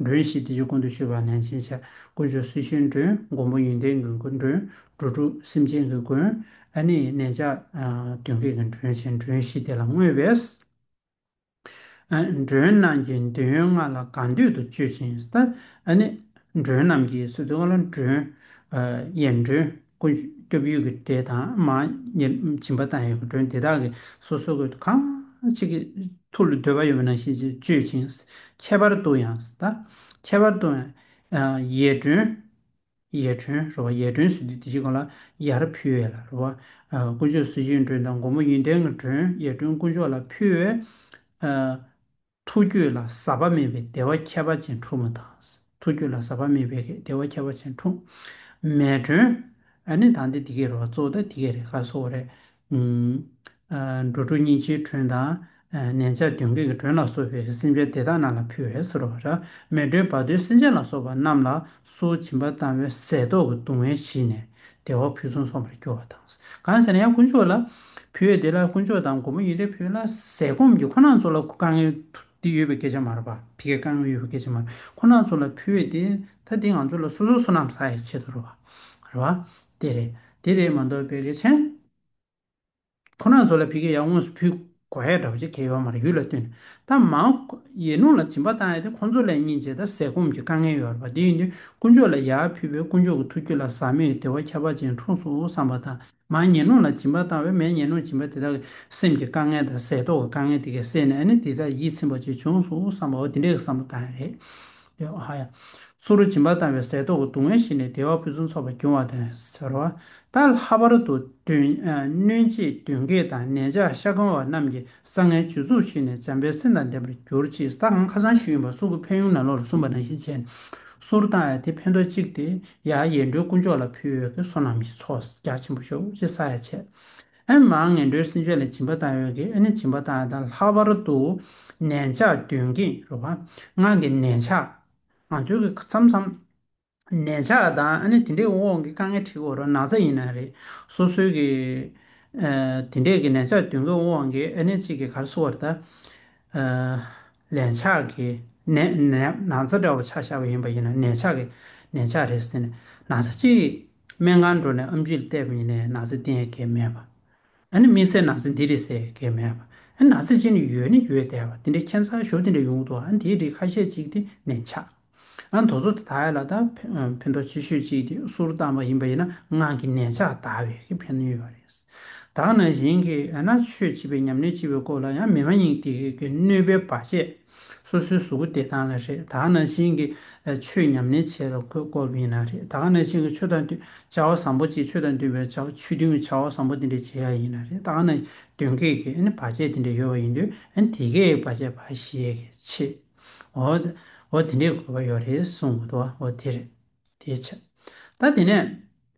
S1: མགྲོན་བཞི་བདེ་ཆེན་ཀུན་ཏུ་སྤྱོད་པ་ནན་ཅིང་བྱ། དཀོན་མཆོག་སྲི་ཞུའི་མགྲོན་མགོན་པོ་ཡོན་ཏན་མགོན་དགུའི་མགྲོན། འགྲོ་དྲུག་སེམས་ཅན་གྱི་མགོན། ཨ་ནི་ནན་ཅག་གདོན་བགེགས་ཀྱི་མགྲོན་བྱེད་མགྲོན་བཞི་དེ་ལ་བསྔོས་པས། མགྲོན་རྣམས་ཀྱི་འདོད་ཡོན་ལྔ་ལ་གང་འདོད་དུ་སྤྱོད་ཅིང་ཟ། ཨ་ནི་མགྲོན་རྣམས་ཀྱི་སོ་སོའི་ལྔ་ལ་མགྲོན། ཡན་མགྲོན། ཀུན་སྐྱོབ་ཡུལ་གྱི་སྒྲས་དང་མ་ཉེར་བྱིན་པ་དང་ཡོད་ཀྱི་སྒྲོན་དེ་དག་གི་སོ་སོ་ཀུན་ཏུ་གང་ཅི་གི་ཐུགས་ལ་འདོད་པ་ཡོད་པ་ནང་བཞིན་ཅིག་སྤྱོད་ཅིང་ཁྱད་པར་དུ་ཡང་དང་ཁྱད་པར་དུ་ཡང་ཡས་སྒྲོན། ཡས་སྒྲོན་རུ་བ་ཡས་སྒྲོན་ཟེར་དུས་དེ་བཞིན་གང་ལ་ཡར་ཕུལ་བས་ལ་རུ་བ་དཀོན་མཆོག་གསོལ་བཞིའི་སྒྲོན་དང་མགོན་པོ་ཡོན་ཏན་གྱི་སྒྲོན་ཡས་སྒྲོན་དཀོན་མཆོག་ལ་ཕུལ་བས། ཐུགས་རྒྱུད་ལ་ཟག་པ་མེད་པའི་བདེ་བ་ཁྱད་པར་ཅན་འཁྲུངས་པ་དང། ཐུགས་རྒྱུད་ལ་ཟག་པ་མེད་པའི་བདེ་བ་ཁྱད་པར་ཅན་འཁྲུངས། མས་དྲོན། ཨ་ནི་དང་དེ་དེ་གའི་རོ་བ་གཙོ་བོ་དང་དེ་གའི་རེ་ཁཱ་གསོ་བ་རེད། འགྲོ་དྲུག་སྙིང་རྗེའི་དྲོན་དང། ནན་ཆགས་གདོན་བགེགས་ཀྱི་དྲོན་ལ་སོགས་པའི་སེམས་ཅན་དེ་དག་རྣམས་ལ་ཕུལ་བས་གསོ་རོགས། མས་དྲོན་བར་དོའི་སེམས་ཅན་ལ་སོགས་པ་རྣམས་ལ་སོ་བྱིན་པ་དང་བའི་ཟས་ཏོག་གི་སྡུག་བསྔལ་ཞི་ནས་བདེ་བ་ཕུན་སུམ་སོང་བར་གྱུར་བ་དང། གང་ཟེར་ན་ཡང་དཀོན་མཆོག་ལ་བུ་ཡོད་དེ་ལ་དཀོན་མཆོག་དང་མགོན་པོ་ཡོད་དེ་བུ་ལ་ཟས་སྐོམ་གྱི་ཁོ་ན་ཚོ་ལ་དཀའ་ངལ་འདི་ཡོད་པའི་སྐད་ཆ་མ་རེད་པ་དེ་གའི་དཀའ་ངལ་ཡོད་པའི་སྐད་ཆ་མ་རེད་ཁོ་ན་ཚོ་ལ་བུ་ཡོད་དེ་ད་དེ་ང་ཚོ་ལ་སོ་སོ་སོ་ནམ་ཟ་ཡི་ཆེད་དུ་རེད་པ་རེད་པ་དེ་རེད་དེ་རེད་མ་འདོགས་པའི་རེད་ཆན། ཁོ་ནར་བཟོ་ལ་བི་གེ་ཡང་དངོས་སུ་ཕུལ། གོ་ཧའི་དགྲ་བོ་ཆེ་གེ་ཡོ་མར་ཡུལ་ལ་བསྟུན། ད་མ་ཡེ་ནུ་ལ་སྦྱིན་པ་བཏང་ཡོད་དེ་ཁོང་ཚོ་ལས་ཉིན་བྱེད་དང་ཟས་སྐོམ་གྱི་དཀའ་ངལ་ཡོད་རེད་པ་དེ་ཡིན་དུས་དཀོན་མཆོག་ལ་ཡར་ཕུལ་བས་དཀོན་མཆོག་གི་ཐུགས་རྒྱུད་ལ་ཟག་མེད་ཀྱི་བདེ་བ་ཁྱད་པར་ཅན་འཁྲུངས་སོ་བསམ་པ་དང་མ་ཡེ་ནུ་ལ་སྦྱིན་པ་བཏང་བས་མས་ཡེ་ནུ་སྦྱིན་པ་དེ་དག་གིས་སེམས་ཀྱི་དཀའ་ངལ་དང་ཟས་ཏོག་གི་དཀའ་ངལ་དེ་གས་སེལ་ནས་ཨ་ནི་དེ་དག་ཡིད་ཚིམ་པ་བྱས་བྱུང་སོ་བསམ་པའོ་དེ་འདྲའི་བསམ་པ་བཏང་ཡོད་རེད། ཡོད། ཧ་ཡ། སུ་རུ་སྦྱིན་པ་བཏང་བའི་ཟས་ཐོག་གི་སྡུག་བསྔལ་ཞི་ནས་བདེ་བ་ཕུན་སུམ་ཚོགས་པ་འབྱུང་བ་དང་ཟེར་རོ། ད་ལྷ་བར་དུ་གདོན། གནོད་བྱེད་གདོན་བགེགས་དང་ནད་ཆགས་ཤ་སྐམ་བ་རྣམས་ཀྱི་ས་ངན་བྱུར་ཚུགས་ཞི་ནས་འཇམ་པའི་སེམས་དང་ལྡན་པར་གྱུར་ཅིག་ཟླ་གམ་ཁ་སང་ཞུས་ཡོན་པ་སུ་ཀུ་ཕན་ཡུམ་ནག་ལོགས་ལ་གསུངས་པ་ནང་བཞིན་བྱས་ནས་སུ་རུ་བཏང་ཡ་དེ་ཕན་ཐོགས་གཅིག་དེ་ཡ་ཡེ་འགྲོའི་སྐུ་མཆོག་ལ་ཕུལ་བས་ཀྱི་སོ་ནམ་ཞིག་ཚོགས་རྒྱ་ཆེན་པོ་ཤོག་ཅེས་ས་ཡ་བྱས། ཨེ་མ་ངན་འགྲོའི་སེམས་ཅན་ལ་སྦྱིན་པ་བཏང་ཡོད་ཀྱི་ཨེ་ནི་སྦྱིན་པ་བཏང་ཡོད་དང་ལྷག་པར་དུ་ནན་ཆགས་དོན་གྱིས་རུ་བ་ངང་གིས་ནན་ཆགས་ང་ཚོའི་གི་མཚམས་མཚམས་ནན་ཆགས་དང་ཨེ་ནི་དེ་འདྲའི་འོག་གི་དཀའ་ངལ་འཕྲི་གོ་རུ་ན་ཚ་ཡིན་ན་རེད་སོ་སོའི་གི་དེ་འདྲའི་གི་ནན་ཆགས་དོན་གྱི་འོག་གི་ཨེ་ནི་གཅིག་གི་གར་སོ་བར་ད་ལན་ཆགས་གི་ནན་ནན་ན་ཚ་འདྲ་བོ་ཆགས་ཤག་པ་ཡིན་པ་ཡིན་ན་ནན་ཆགས་གི་ནན་ཆགས་རེད་ཟེར་ན་ན་ཚ་གཅིག་སྨན་ཁང་འགྲོ་ནས་ཨམ་ཆུ་ལྟེབ་ཡིན་ནས་ནག་སེལ་ཏེ་གས་མེད་པ། ཨ་ནི་མི་སེར་ནག་སེལ་འདི་རེད་ཟེར་གས་མེད་པ། ཨ་ནི་ནག་སེལ་ཅི་ནི་ཡོད་ནི་ཡོད་བསྡད་པ་དེ་འདྲའི་ཁྱད་མཚར་ཞོར་དེ་འདྲའི་ཡོང་གི་འདུག་ཨ་ནི་དེའི་རིགས་ཁ་ཤས་ཅིག་དེ་ནས་ཆགས། ཨ་ནི་དོ་བཟོ་དེ་དག་ཡོད་ལ་ད་ཕན་ཐོགས་ཆེ་ཤོས་ཅིག་དེ་སུར་བཏང་བ་ཡིན་པ་ཡིན་ན་ངག་གི་ནད་ཆགས་དག་བས་ཀྱི་ཕན་ནུས་ཡོད་པ་རེད། དག་ན་གཞན་གྱི་ཨ་ན་ཆོས་བྱེད་པའི་ཉམས་ལེན་བྱེད་པའི་སྐོར་ལ་ཡང་མི་མ་ཡིན་གྱི་གི་གནོད་པའི་བར་ཆད། སོ་སོའི་གཟུགས་སྐུ་བདེ་ཐང་ལ་རེད་ད་ནང་བཞིན་གྱི་ཆོས་ཉམས་ལེན་བྱེད་ལ་གོས་བསྐོར་བ་ཡིན་ན་རེད་ད་ནང་བཞིན་གྱི་ཆོས་དང་བསྟུན་བྱ་བ་བཟང་པོ་བྱེད་ཆོས་དང་བསྟུན་པའི་བྱ་ཆོས་བསྟུན་བྱ་བ་བཟང་པོ་དེ་འདྲ་བྱེད་ཡ་ཡིན་ན་རེད་ད་ནང་བསྟུན་མཁས་ཀྱི་ཨ་བར་ཆད་དེ་འདྲ་ཡོད་པ་ཡིན་དུས་དེ་གའི་བར་ཆད་བར་ཞེས་ཀྱི་ཆེད་འོ་འོ་དེ་འདྲའི་གོ་བ་ཡོད་རེད་གསུངས་འོ་དེ་རེད་དེའི་ཕྱིར་ད་དེ་ནས།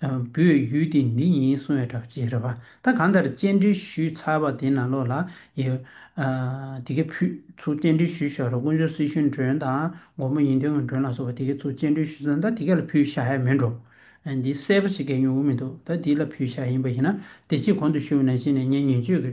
S1: བོད་ཡུལ་འདི་འདི་ཡིན་གསུང་བའི་གྲགས་ཅན་རེད་བ་ད་གང་ལྟར་སྤྱན་འདྲེན་ཞུས་ཚར་བ་དེ་ནང་ལོགས་ལ་ཡོད། དེ་གས་ཕུད་ཚུར་སྤྱན་འདྲེན་ཞུས་ཤོག་རོགས་དཀོན་མཆོག་སྲིད་གཞུང་མགྲོན་དང་སྒོར་མོ་ཡིན་དོན་ངང་མགྲོན་ལ་སོགས་པ་དེ་གས་ཚུར་སྤྱན་འདྲེན་ཞུས་ཚར་ད་དེ་གས་ལ་ཕུད་བཞག་ཡ་མེད་འགྲོ། འདི་གསལ་པོ་ཞིག་གས་མྱོང་གི་མི་འདུག་ད་དེ་ལ་ཕུད་བཞག་ཡིན་པ་ཡིན་ན་བདེ་སྐྱིད་གོང་དུ་ཞུ་བ་ནང་བཞིན་ནས་ངས་ངན་བྱུས་ཀྱི་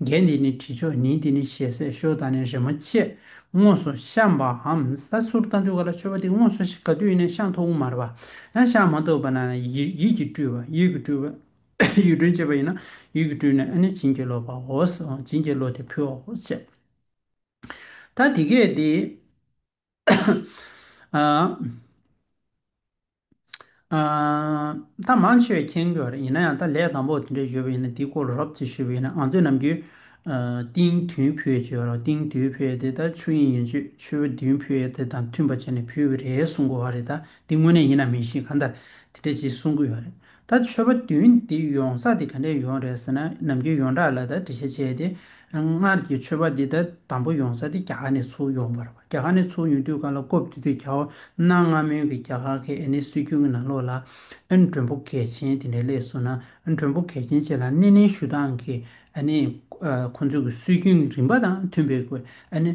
S1: རྒྱན་འདི་ནི་དྲི་མཆོག་ཉིད་འདི་ནི་ཞལ་ཟས་ཞོ་དང་ནི་རེ་མོ་ཆེ་དངོས་སུ་བཤམས་པའམ་ས་སུར་རྟ་འདུལ་ག་ལ་ཆོས་པ་འདི་དངོས་སུ་ག་དུས་ནས་ཤངས་ཐུང་མར་བ་ཡང་ཤངས་མ་ཐུབ་པ་ན་ཡིད་ཀྱིས་སྤྲུལ་བ་ཡིད་ཀྱིས་སྤྲུལ་བ་ཡུལ་སྤྲུལ་བྱེད་པ་ཡིན་ན་ཡུལ་གྱིས་སྤྲུལ་ནས་ནི་བྱིན་གྱིས་རློབ་པའོ། བྱིན་གྱིས་རློབ་སྟེ་ཕུལ་བའོ། ད་དེ་སྐད་དེ། ད་མང་ཆེ་བས་མཁྱེན་དགོས་པ་རེད་ཡིན་ན་ཡང་ད་ལས་དང་པོ་དེ་འདྲས་བརྗོད་པ་ཡིན་ན་དེའི་སྐོར་ལ་རོབ་ཙེ་ཞུས་པ་ཡིན་ན་ང་ཚོས་ནམ་རྒྱུན་ཏིང་དུས་ཕུད་ཅེས་པ་རོ་ཏིང་དུས་ཕུད་དེ་ད་ཆུ་དབྱིངས་ཡོན་ཆོད་ཆུ་བོ་དུས་ཕུད་དེ་དང་མཐུན་པ་བྱས་ནས་ཕུད་པ་རེད་གསུང་དགོས་བ་རེད་ད་དེ་དངོས་གནས་ཡིན་ན་མིན་ཤེས་གང་ལྟར་དེ་འདྲས་ཅིག་གསུང་གི་ཡོད་རེད་ད་ཆོས་པ་བདུན་འདི་ཡོང་ས་དེ་ག་ནས་ཡོང་རེད་ཟེར་ན་ནམ་རྒྱུན་ཡོངས་གྲགས་ལ་ད་འདྲི་བཤད་བྱས་ཏེ། སྔར་གྱི་ཆོས་པ་འདི་ད་དམ་པོ་ཡོང་ས་དེ་རྒྱ་གར་ནས་ཚུར་ཡོང་པར་རྒྱ་གར་ནས་ཚུར་ཡོང་དུས་ག་ལ་རྐོ་བགྱིད་དུས་གྱ་བོ་གནའ་སྔ་མོའི་གི་རྒྱ་གར་གི་ཨེ་ནི་སྲོལ་རྒྱུན་གི་ནང་ལོགས་ལ། ཨེ་མགྲོན་པོ་གལ་ཆེན་དེ་འདྲའི་སླད་སོང་ན་མགྲོན་པོ་གལ་ཆེན་བཅས་ལ་སྣེ་ལེན་ཞུ་སྟངས་ཀྱི་ཨེ་ནི་ཁོང་ཚོའི་གི་སྲོལ་རྒྱུན་གི་རིམ་པ་དང་མཐུན་པའི་གི་ཨེ་ནི།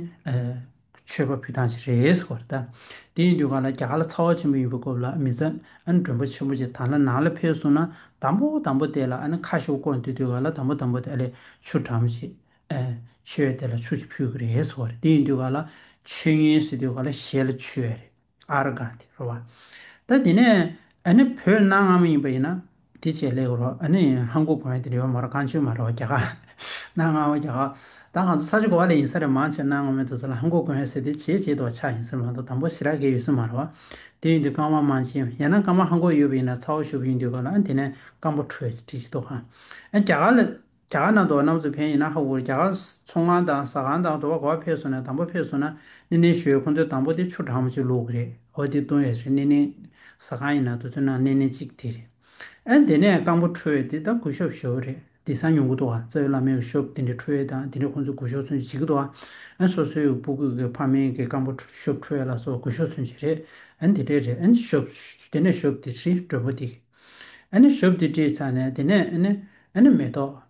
S1: མཆོད་པ་ཕུལ་སྟངས་ཤིག་རེད་ཟེར་བ་རེད་ད། དེ་ཡིན་དུས་གང་ལ་རྒྱ་གར་ལ་ཚ་བ་ཆེན་པོ་ཡིན་པའི་སྐོབས་ལ་མི་ཚ། ཨ་ནི་མགྲོན་པོ་ཆེན་པོ་ཅིག་དང་ལ་ནང་ལ་ཕེབས་སོང་ན་དམ་པོ་དམ་པོ་དེ་ལ་ཨ་ནི་ཁ་ཤོ་བསྐོར་འདུག་དུས་གང་ལ་དམ་པོ་དམ་པོ་དེ་ཨ་ལས་ཆུ་གྲམ་ཞིག་ཨེ། ཆུའི་དེ་ལ་ཆུ་ཞིག་ཕུལ་གི་རེད་ཟེར་བ་རེད་དེ་ཡིན་དུས་གང་ལ་ཆུ་ཉོས་ཟེར་དུས་གང་ལ་ཞེ་ལ་ཆུ་ཨེ་རེད། ཨ་ར་ག་དེ་རོ་བ། ད་དེ་ནས་ཨ་ནི་བོད་གནའ་སྔ་མོ་ཡིན་པ་ཡིན་ན་དེ་བྱས་ལེགས་རོ་ཨ་ནི་ཧན་གོ་གོ་ཡན་དེ་རི་བ་མ་རོ་ཀང་ཆོས་མ་རོ་བ་གྱ་ག་གནའ་སྔ་མོ་གྱ་ག་ད་ང་ཚོ་ས་ཆུ་གོ་བ་ལས་ཡིན་ས་རེད་མང་ཆེ་གནའ་སྔ་མོའི་དུ་ས་ལ་ཧན་གོ་གོ་ཡན་ཟེར་དེ་བྱས་བྱས་དུ་བ་ཆགས་ཡིན་ཟེར་མ་འདུག་དང་པོ་ཞི་ར་གའི་ཡོད་ས་མ་རོ་བ་དེ་ཡིན་དུས་ཀང་བ་མང་ཆེ་ཡན་ན་ཀང་བ་ཧན་གོ་ཡོད་པ་ཡིན་ན་ཚ་བོ་ཞུ་བ་ཡིན་དུས་ག་ལ་ཨ་དེ་ནས་ཀང་བོ་ཁྲོས་ཅི་ཁྲིད་ཅི་ཐུག་ཧ་ཨ་གྱ་ག་ལ་རྒྱ་གར་ནང་དུ་བ་གནམ་མཚོ་བན་ཡིན་ན་ཧ་གོ་རེད་རྒྱ་གར་མཚོ་ཁང་དང་ཟ་ཁང་དང་དུ་བ་གོ་བ་ཕེབས་སོང་ནས་དང་པོ་ཕེབས་སོང་ན་ནེ་ནེ་ཞོའི་ཁོང་ཚོའི་དང་པོ་དེ་ཆུ་གྲང་མོ་ཅིག་བླུག་གི་རེད་ཧོ་དེ་བཏུང་བས་རེད་ནེ་ནེ་ཟ་ཁང་ཡིན་ན་དུ་ཚོད་ནང་ནེ་ནེ་ཅིག་དེ་རེད་ཨན་དེ་ནས་རྐང་པོ་འཁྲུ་བས་དེ་ད་གུ་ཤོབ་ཞོ་རེད་དེ་ས་ཉུང་གི་དུ་བ་རྩ་བའི་བླ་མའི་གུ་ཤོབ་དེ་འདྲ་འཁྲུ་བས་དང་དེ་འདྲ་ཁོང་ཚོའི་གུ་ཤོབ་ཚུན་ཅི་བྱེད་ཀི་དུ་བ་ཨན་སོ་སོའི་སྤུ་གུས་ཀྱི་ཕ་མེས་ཀྱི་རྐང་པོ་འཁྲུ་ཤོབ་འཁྲུ་བས་ལ་སོ་གུ་ཤོབ་ཚུན་ཅི་རེད་ཨན་དེ་འདྲས་རེད་ཨན་ཤོབ་ཞོ་དེ་ནས་ཤོབ་དེ་ཧྲིལ་སྒྲོལ་པོ་དེ་ཞོབ་དེ་དྲིས་ཚར་ནས་དེ་ནས་མེ་ཏོག་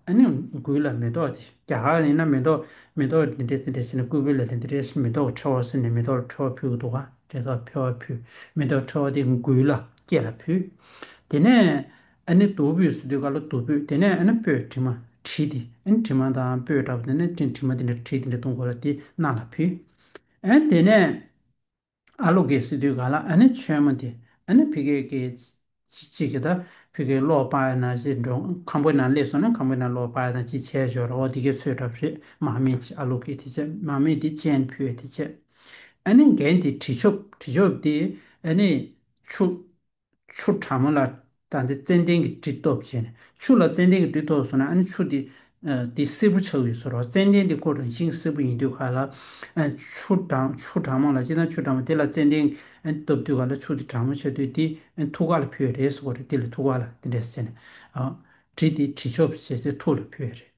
S1: འགུལ་ལ་མེ་ཏོག་རྒྱ་གར་ཡིན་ན་མེ་ཏོག་མེ་ཏོག་དེ་འདྲས་དེ་འདྲས་ཟེར་ནས་སྐུད་འབུད་ལ་དེ་འདྲས་མེ་ཏོག་ཁྲོ་བོ་ཟེར་ནས་མེ་ཏོག་ཁྲོ་བོ་ཕུལ་གྱི་འདུག་ག་དྲས་ཐོག་ཕེ་བ་ཕུལ་མེ་ཏོག་ཁྲོ་བོ་དེ་འགུལ་ལ་སྐྱེས་ལ་ཕུལ། དེ་ནས་དུ་བུས་སུ་དུས་ཀ་ལ་དུ་བུས་དེ་ནས་སྤོས་དྲི་མ་དྲིས་ཏེ་དྲི་མ་དང་སྤོས་འདྲ་པོ་དེ་ནས་དྲི་མ་དེ་འདྲས་དྲིས་དེ་འདྲས་བཏུང་གོ་ལ་དེ་སྣ་ལ་ཕུལ། དེ་ནས། ཨ་ལོ་གེ་སི་དུས་ག་ལ་ཨ་ནེ་ཆོས་མ་དེ་ཨ་ནེ་ཕི་གེ་གེ། ཅི་གི་ད་ཕི་གེ་ལོག་པ་ཡ་ན་ཟི་འགྲོ་ཁམ་པོའི་ནང་སླེབས་སོང་ན་ཁམ་པོའི་ནང་ལོག་པ་ཡ་ན་ཅི་བྱས་ཞོར་ར་བ་དེ་གེ་ཚོས་གྲབས་རེད་མ་མེད་ཅི་ཨ་ལོ་གེ་དེ་བྱས་མ་མེད་དེ་ཅན་ཕུད་དེ་བྱས་ཨ་ནེ་འགན་དེ་དྲི་ཆོབ་དྲི་ཆོབ་དེ་ཨ་ནེ་ཆུ། ཆུ་གྲང་མོ་ལ་ད་འདི་ཙན་དན་གྱི་དྲི་ཐོབ་བྱས་ནས་ཆུ་ལ་ཙན་དན་གྱི་དྲི་ཐོབ་སོང་ན་ཨ་ནི་ཆུ་དེ་དེ་སེར་བུ་ཆགས་ཡོད་ཟེར་རོ་ཙན་དན་དེ་ཁོ་རང་བཞིན་གྱི་སེར་བུ་ཡིན་དུས་ག་ལ་ཆུ་གྲང་ཆུ་གྲང་མོ་ལ་སྤྱིར་ན་ཆུ་གྲང་མོ་དེ་ལ་ཙན་དན་ཐོབ་དུས་ག་ལ་ཆུ་དེ་གྲང་མོ་ཆགས་དུས་དེ་ཐུགས་ཀ་ལ་ཕུལ་བས་རེད་ཟེར་གོ་རེད་དེ་ལ་ཐུགས་ཀ་ལ་དེ་འདྲས་ཟེར་ནས་དྲི་དེ་དྲི་ཆོབ་བྱས་ཚེ་ཐུགས་ལ་ཕུལ་བས་རེད།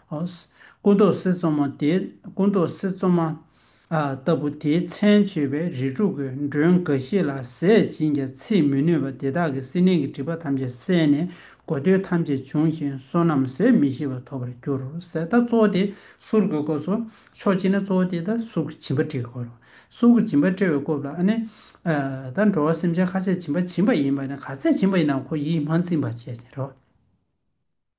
S1: སྐུ་མདོག་གསེར་བཙོ་མ་དེ་སྐུ་མདོག་གསེར་བཙོ་མ། ལྟ་བུ་དེའི་མཚན་བརྗོད་པས་རི་ཕྲུག་གི་མགྲོན་འགའ་ཤས་ལ་ཟས་སྦྱིན་ཀྱང་ཚིག་མི་ནུས་པ་དེ་དག་གི་སྲི་ནན་གྱི་དྲིས་པ་ཐམས་ཅད་བསལ་ནས་དགོས་འདོད་ཐམས་ཅད་འབྱུང་ཞིང་བསོད་ནམས་ཟད་མི་ཤེས་པ་ཐོབ་པར་འགྱུར་ཟས་ལྟ་གཙོ་བོ་དེ་གསུར་དགོས་སྐོར་སོ་ཕྱོགས་གཅིག་ན་གཙོ་བོ་དེ་ལྟ་གསུར་གྱི་བྱིན་པ་བྲི་དགོས་རུང་གསུར་གྱི་བྱིན་པ་བྲི་བའི་སྐོབས་ལ་ནི། ད་འགྲོ་བ་སེམས་ཅན་ཁ་ཤས་བྱིན་པ་བྱིན་པ་ཡིན་པ་ནི་ག་ཚད་བྱིན་པ་ཡིན་ནའང་ཁོ་ཡིད་སྨོན་བཙིམ་པར་བྱེད་ཅིང་རོ།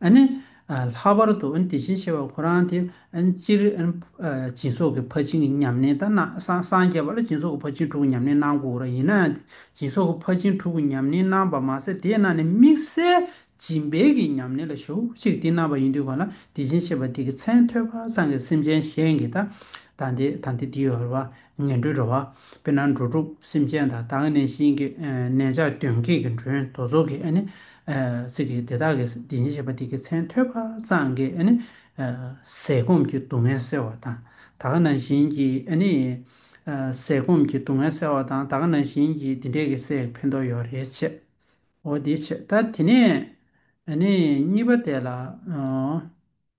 S1: ཨ་ནི། ལྷག་པར་དུ་དེ་བཞིན་གཤེགས་པ་ཁོ་རང་དེ། སྤྱིར། སྦྱིན་སོགས་ཀྱི་ཕ་ཆིངས་ཉམས་ལེན་དང་ན་སངས་རྒྱས་པ་ལ་སྦྱིན་སོགས་ཀྱི་ཕ་ཆིངས་དྲུག་གི་ཉམས་ལེན་གནང་དགོས་ར་ཡིན་ན། སྦྱིན་སོགས་ཀྱི་ཕ་ཆིངས་དྲུག་གི་ཉམས་ལེན་གནང་བ་མ་ཟད་དེ་ན་ནས་དམིགས་བསལ་སྦྱིན་སྦེལ་གྱི་ཉམས་ལེན་ལ་ཞུ་གཅིག་དེ་གནང་བ་ཡིན་དུས་གང་ལ་དེ་བཞིན་གཤེགས་པ་དེ་གི་མཚན་ཐོས་པ་ཚང་གི་སེམས་ཅན་གཞན་གྱི་དང་དེ་དང་དེ་དེའི་བར་བ། ངན་འགྲོའི་འགྲོ་བ། དཔེར་ན་འགྲོ་དྲུག་སེམས་ཅན་དང་དྭངས་གནས་ཤིང་གི་གནས་ཆགས་གདོན་བགེགས་ཀྱི་མགྲོན་དུ་ཚོགས་ཀྱི་ཨ་ནི། ཚིག་གིས་དེ་དག་གི་བདེན་ཞེན་བྱེད་པ་དེ་གི་མཚན་ཐོས་པ་སངས་རྒྱས་ཨ་ནི། ཟས་སྐོམ་གྱི་སྡུག་བསྔལ་སེལ་བ་དང་ད་ག་ན་བཞིན་གྱིས་ཨ་ནི། ཟས་སྐོམ་གྱི་སྡུག་བསྔལ་སེལ་བ་དང་ད་ག་ན་བཞིན་གྱིས་འདི་འདྲས་ཀྱི་སྲས་ཀྱི་ཕན་ཐོགས་ཡོད་རེད་བྱས། འོ་དེ་བྱས་ད་དེ་ནས་ཨ་ནི་གཉིས་པ་དེ་ལ།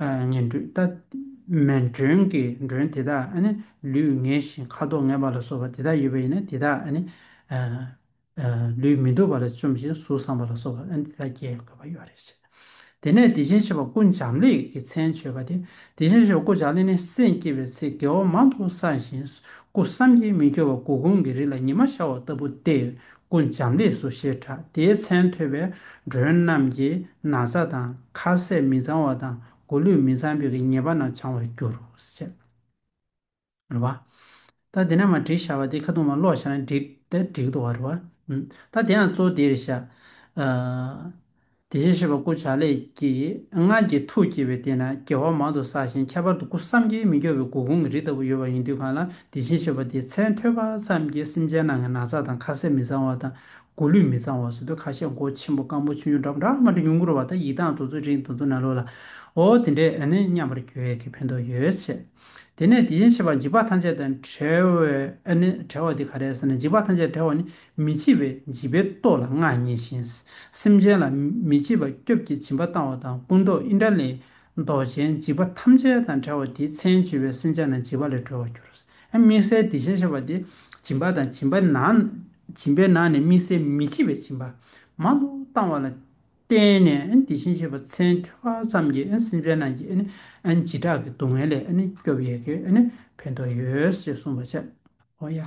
S1: ངན་འགྲོས་ལྟ། མེད་མགྲོན་གྱི་མགྲོན་དེ་དག་ནི་ལུས་ངལ་ཞིང་ཁ་དོག་ངལ་བ་ལ་སོགས་པ་དེ་དག་ཡོད་པ་ཡིན་ན་དེ་དག་ནི། ལུས་མི་སྡུག་པ་ལ་བཅོམ་ཞིང་གཟུགས་བཟང་བ་ལ་སོགས་པ་དེ་དག་རྒྱས་དགོས་པ་ཡོད་རེད། དེ་ནས་བདེ་ཆེན་བྱེ་བ་ཀུན་འབྱམས་ལས་ཀྱི་མཚན་བརྗོད་པ་དེ་བདེ་ཆེན་བྱེ་བ་ཀུན་འབྱམས་ལས་ནི་སེམས་བསྐྱེད་པའི་ཚེ་དགེ་བ་མང་དུ་བསགས་ཤིང་སྐུ་བསམ་གྱིས་མི་ཁྱབ་པ་དགུ་གོང་གི་རིགས་ལ་ཉི་མ་ཤར་བ་ལྟ་བུ་སྟེ་སྐུ་འབྱམས་ལེགས་སོ་ཞེས་གྲགས་དེའི་མཚན་ཐོས་པའི་མགྲོན་རྣམས་ཀྱིས་ན་བཟའ་དང་ཁ་ཟས་མི་གཙང་བ་དང་མགོ་ལུས་མི་གཙང་བས་ཉེས་པ་རྣམས་བྱང་བར་འགྱུར་རོ་ཞེས་རེ་བ། ད་དེ་ན་མ་བྲིས་བྱ་བ་དེ་ཁ་ཐུག་མ་ཀློག་བྱ་ན་འགྲིག་ད་འགྲིག་དོ་བ་རེ་བ། ད་དེའང་གཙོ་བདེར་བྱ། དེ་བཞིན་གཤེགས་པ་སྐུ་བྱ་ལས་ཀྱི་སྔགས་ཀྱི་ཐུགས་བསྐྱེད་པའི་སྟེང་ན་རྒྱལ་བ་མང་དུ་བསགས་ཤིང་ཁྱད་པར་དུ་སྐུ་བསམ་གྱིས་མི་ཁྱབ་པའི་དགུ་གོང་གི་རི་ལྟ་བུ་ཡོད་པ་ཡིན་དུས་གང་ལ་དེ་བཞིན་གཤེགས་པ་དེའི་མཚན་ཐོས་པ་ཙམ་གྱིས་སེམས་ཅན་རྣམས་ཀྱི་ན་ཚ་དང་ཁ་ཟས་མི་གཙང་བ་དང་མགོ་ལུས་མི་གཙང་བ་སོ་དུ་ཁ་ཤས་མགོ་ཆེན་པོ་སྐམ་པོ་ཆུ་ཉུང་འདྲ་འདྲ་མ་འདྲ་ཉུང་ངུར་བ་དང་ཡིད་དང་དུ་ཚོད་རིང་དུ་དུ་ན་ལོ་ལ་འོ་དེ་འདྲས་ཨ་ནི་སྙམ་པར་གྱུར་གྱི་ཕན་ཐོགས་ཡོད་ཟེར། དེ་ནས་དེ་བཞིན་གཤེགས་པ་འཇིགས་པ་ཐམས་ཅད་དང་བྲལ་བའི་ཨ་ནི་བྲལ་བ་དེ་ག་རེ་ཟེར་ན་འཇིགས་པ་ཐམས་ཅད་བྲལ་བ་ནི་མི་འཆི་བའི་བྱིས་པའི་ལྟོ་ལ་མངའ་བརྙེས་ཤིང། སེམས་ཅན་ལ་མི་འཆི་བ་སྐྱོབ་ཀྱི་བྱིན་པ་བཏང་བ་དང་སྐུ་མདོག་ཨིནྡྲ་ལའི་མདོག་ཅན་བྱིས་པ་ཐམས་ཅད་དང་བྲལ་བ་དེའི་མཚན་བྱིས་པའི་སེམས་ཅན་རྣམས་བྱིས་པ་ལས་གྲོལ་བར་གྱུར། དམིགས་བསལ་དེ་བཞིན་ཤེས་པ་དེ་བྱིན་པ་དང་བྱིན་པའི་ནང་བྱིན་པའི་ནང་ནས་དམིགས་བསལ་མི་འཆི་བའི་བྱིན་པ་མ་ལུས་བཏང་བ་ལ་བརྟེན་ནས་དེ་བཞིན་གཤེགས་པ་མཚན་ཐོས་པ་ཙམ་གྱིས་སེམས་ཅན་རྣམས་ཀྱི་བྱེ་བྲག་གི་སྡུག་བསྔལ་ལས་སྐྱོབ་ཡོད་ཀྱི་ཕན་ཐོགས་ཡོད་ཅེས་གསུངས་པ་ཆད། ཧོ་ཡ།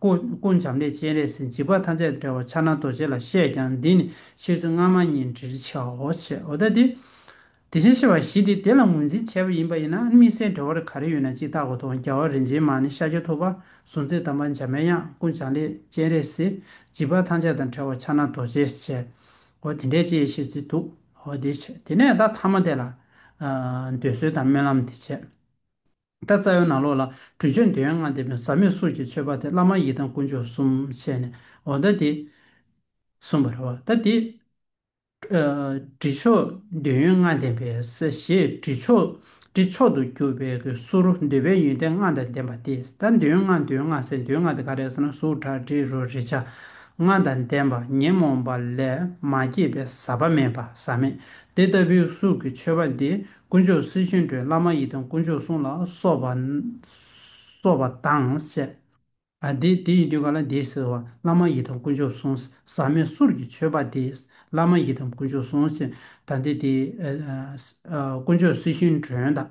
S1: ཀུན་བྱམས་ལས་སྤྱན་རས་གཟིགས་འཇིགས་པ་ཐམས་ཅད་བསྒྲལ་བར་ཕྱག་ན་རྡོ་རྗེ་ལ་གཤེགས་ཀྱང་འདི་ནི་ཕྱིས་སུ་སྔ་མ་ཉིད་འདྲིར་བྱའོ། ཞེས་འོ་ད་དེ། དེ་བྱས་ཤེས་པ་བཞི་དེ་དེ་ལ་ངོས་འཛིན་བྱས་པ་ཡིན་པ་ཡིན་ན་དམིགས་བསལ་འབྲེལ་བར་ག་རེ་ཡོད་ན་ཅིག་བརྟག་པ་དང་རྒྱལ་བ་རིན་ཆེན་མ་ནི་ཤཱཀྱ་ཐུབ་པ་གཟུགས་མཛེས་དམ་པ་འཇམ་པའི་དབྱངས་ཀུན་བྱང་ལས་སྤྱན་རས་གཟིགས་འཇིགས་པ་ཐམས་ཅད་དང་བྲལ་བར་ཕྱག་ན་རྡོ་རྗེ་བྱས། འོ་དེ་འདྲའི་ཅེས་བཤད་ཚུལ་འདུག་འོ་དེ་བྱས་དེ་ནས་བདག་ཐ་མ་དེ་ལ། འདོད་གསོལ་དང་སྨོན་ལམ་དེ་བྱས། ད་རྩ་བའི་ནང་ལོགས་ལ་གྲུ་ཆོས་འདོད་ཡོན་ལྔ་འདེབས་པའི་ཟབ་མོས་སུ་ཀྱི་མཆོད་པ་དེ་བླ་མ་ཡི་དམ་དཀོན་མཆོག་གསུམ་བཤད་ནས་འོ་ད་དེ། གསུངས་པ་རེད་བ་ད་དེ། གྲི་མཆོག་འདོད་ཡོན་ལྔ་འདེབས་པའི་ཞེས་གྲི་མཆོག་གྲི་མཆོག་ཏུ་གྱུར་པའི་གསུར་རོ་འདོད་པའི་ཡོན་ཏན་ལྔ་དང་ལྡན་པ་དེ་ད་འདོད་ཡོན་ལྔ་འདོད་ཡོན་ལྔ་ཟེར་འདོད་ཡོན་ལྔ་དེ་ག་རེད་ཟེར་ན་གཟུགས་ཁྲག་དྲི་རོ་རེག་བྱ་ལྔ་དང་ལྡན་པ་ཉོན་མོངས་པ་ལས་མ་སྐྱེས་པའི་ཟག་པ་མེད་པ་ཟག་མེད་དེ་ལྟ་བུའི་གཟུགས་ཀྱི་མཆོད་པ་འདི་དཀོན་མཆོག་སྲིད་བྱུས་འགྲོའི་བླ་མ་ཡི་དམ་དཀོན་མཆོག་གསུང་ལ་སོགས་པ་དང་བཅས། དེ་ཡི་མདུན་ག་ལ་འདི་ཟེར་བ་བླ་མ་ཡི་དམ་དཀོན་མཆོག་གསུང། ཟག་མེད་གསུར་གྱི་མཆོད་པ་འདི་བླ་མ་ཡི་དམ་དཀོན་མཆོག་གསུང། ད་འདི་དེ་དཀོན་མཆོག་སྲིད་བྱུས་འགྲོའི་བདག།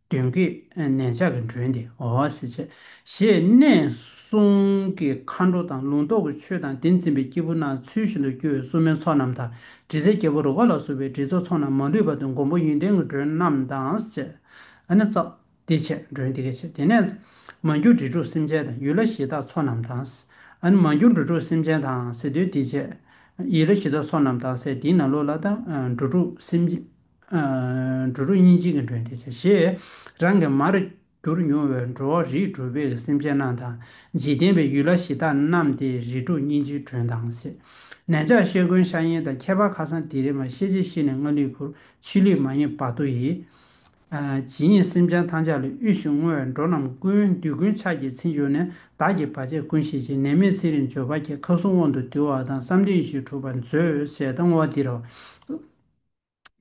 S1: གདོན་བགེགས་ནན་ཆགས་ཀྱི་མགྲོན་ཏེ་འོ་སི་ཆད། ཞེས་གནས་གསུམ་གྱི་མཁའ་འགྲོ་དང་ལུང་རྟོགས་ཀྱི་ཆོས་དང་དེ་འཛིན་པའི་སྐྱེས་བུ་རྣམས་ཚུལ་བཞིན་དུ་སྐྱོ་བའི་བསུ་མའི་ཚོགས་རྣམས་དང་དྲི་ཟའི་རྒྱལ་པོ་རུ་ཀ་ལ་བསུ་བའི་དྲི་ཚོགས་ཚོགས་རྣམས་མ་ལུས་པ་དང་མགོན་པོ་ཡོན་ཏན་གྱི་མགྲོན་རྣམས་དང་བཅས། ཨ་ནི་ཙཀ། དེ་ཆད་མགྲོན་དེ་ཀའི་ཆད་དེ་ནས། མ་གྱུར་དྲི་དྲུག་སེམས་ཅན་དང་ཡུལ་ལ་གཞི་བདག་ཚོགས་རྣམས་དང། ཨ་ནི་མ་གྱུར་འགྲོ་དྲུག་སེམས་ཅན་དང་ཟེ་འདོད་དེ་ཆད། ཡིད་ལ་གཞི་བདག་ཚོགས་རྣམས་དང་ཟེ་འདིའི་ན་ལོ་ལ་དང་འགྲོ་དྲུག་སེམས། འགྲོ་དྲུག་གཉིས་གཅིག་གི་འགྲོས་འདི་བྱས། ཞེས་རང་གི་མར་གྱུར་མྱོང་བའི་འགྲོ་བ་རིས་གྲུ་པའི་སེམས་ཅན་རྣམས་དང་འཇིག་རྟེན་པའི་ཡུལ་ལྷ་གཞི་བདག་རྣམས་ཏེ་རིས་དྲུག་གཉིས་གཅིག་གྲོལ་མདངས་སེ། ནན་ཆགས་ཤེལ་མགོན་ཤ་ཡན་དང་ཁྱད་པར་ཁ་སང་དི་རི་མ་ཤེས་རྗེ་ཤི་ནས་སྔགས་ལུས་བུར་ཕྱི་ལུས་མ་ཡེངས་བར་དོ་ཡིས། ཇི་སྙེད་སེམས་ཅན་ཐམས་ཅད་ལ་དབུལ་ཞིང་བསྔོ་བས་འགྲོ་རྣམས་ཀུན་འདུས་ཀུན་ཆགས་ཀྱི་ཚིག་འབྱུང་ནས་བདག་གི་བར་ཆད་ཀུན་ཞི་ཞིང་ནད་མེད་ཚེ་རིང་འབྱོར་པ་སྐྱེ་མཁའ་སྲུང་དབང་དུ་འདུལ་བ་དང་བསམ་གཏན་ཡེ་ཤེས་གྲུབ་པར་མཛོད་ཅེས་གཏམ་བ་འདི་རུ།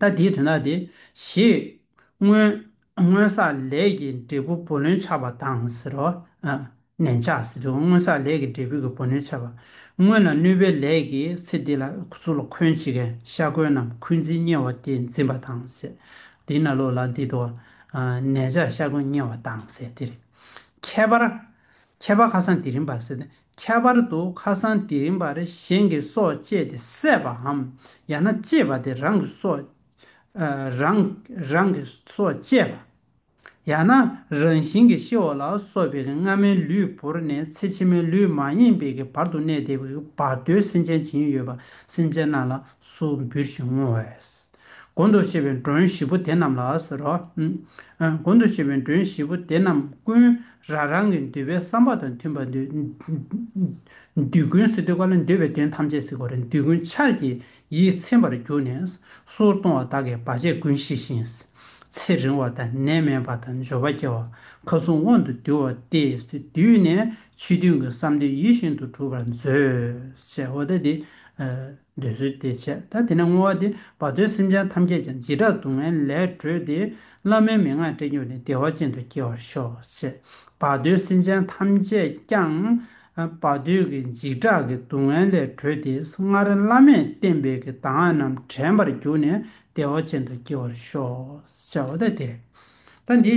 S1: ད་དེའི་དོན་དག་དེ། ཞེས། སྔོན། སྔོན་བསགས་ལས་ཀྱི་འབྲས་བུ་བུ་ལོན་ཆགས་པ་དང་ཟེར་རོ། ནན་ཆགས་ཟེར་དུས་སྔོན་བསགས་ལས་ཀྱི་འབྲས་བུ་གི་བུ་ལོན་ཆགས་པ། སྔོན་ལ་གནོད་པའི་ལས་ཀྱིས་ཚེ་འདི་ལ་གཟུགས་ལ་འཁོན་བྱེད་མཁན་ཤ་འཁོན་རྣམས་འཁོན་འཛིན་དམྱལ་བ་དེ་འཛིན་པ་དང་ཟེར། དེས་ན་ལོག་ལ་འདི་དོ། ནན་ཆགས་ཤ་འཁོན་དམྱལ་བ་དང་ཟེར་ཏེ། ཁྱད་པར། ཁྱད་པར་ཁ་སང་དེ་རིང་བར་ཟེར་ཏེ། ཁྱད་པར་དུ་ཁ་སང་དེ་རིང་བར་གཞན་གྱི་སྲོག་བཅད་དེ་བསད་པའམ་ཡང་ན་གཅེས་པ་དེ་རང་གི་སྲོག། རང། རང་གི་སྲོག་བཅད་པ། ཡང་ན་རང་བཞིན་གྱིས་ཤི་འོ་ལ་སོགས་པའི་སྔ་མའི་ལུས་བོར་ནས་ཚེ་ཕྱི་མའི་ལུས་མ་ཡེངས་པའི་གི་བར་དུ་གནས་བདེ་བའི་བར་དོའི་སེམས་ཅན་བྱིན་ཡོད་པ་སེམས་ཅན་རྣམས་ལ་སུ་འབུལ་ཞིང་བསྔོ་བས། དགོན་དུ་ཤེས་པའི་མགྲོན་བཞི་པོ་དེ་རྣམས་ལ་ཟེར་རོ། དགོན་དུ་ཤེས་པའི་མགྲོན་བཞི་པོ་དེ་རྣམས་ཀུན་རང་རང་གི་འདོད་པའི་བསམ་པ་དང་མཐུན་པར་འདུལ། ཀུན་སི་ཏུ་ཀ་ལ་འདོད་པའི་དོན་ཐམས་ཅད་གཟིགས་པར་འདུལ་ཀུན་ཆར་གྱིས་ཡིད་ཚིམ་པར་གྱུར་ནས་སོར་གཏོང་བ་དག་གིས་བར་ཆད་ཀུན་ཞི་ཞིང། ཚེ་རིང་བ་དང་ནད་མེད་པ་དང་འབྱོར་པ་སྐྱེ་བ་མཁའ་སྲུང་དབང་དུ་འདུལ་བ་སྟེ་བསྡུས་ནས་ཆོས་མཐུན་གྱི་བསམ་འདུན་ཡིད་བཞིན་དུ་གྲུབ་པར་མཛོད། འདོད་གསོལ་བདེ་ཆེ་ད་དེ་ན་བསྔོ་བ་འདི་བ་ཚོའི་སེམས་ཅན་ཐམས་ཅད་ཀྱང་བྱིས་དགྲ་སྡུག་བསྔལ་ལས་སྒྲོལ་ཏེ་བླ་མའི་མན་ངག་སྤྲད་གྱུར་ནས་བདེ་བ་ཅན་དུ་སྐྱེ་བར་ཤོག་ཅེས་བ་ཚོའི་སེམས་ཅན་ཐམས་ཅད་ཀྱང་བ་ཚོའི་གི་འཇིགས་སྐྲག་གི་སྡུག་བསྔལ་ལས་གྲོལ་ཏེ་སྔར་བླ་མས་བསྟན་པའི་གི་གདམས་ངག་རྣམས་དྲན་པར་གྱུར་ནས་བདེ་བ་ཅན་དུ་སྐྱེ་བར་ཤོག་ཅེས་བ་ད་དེ་ད་འདི།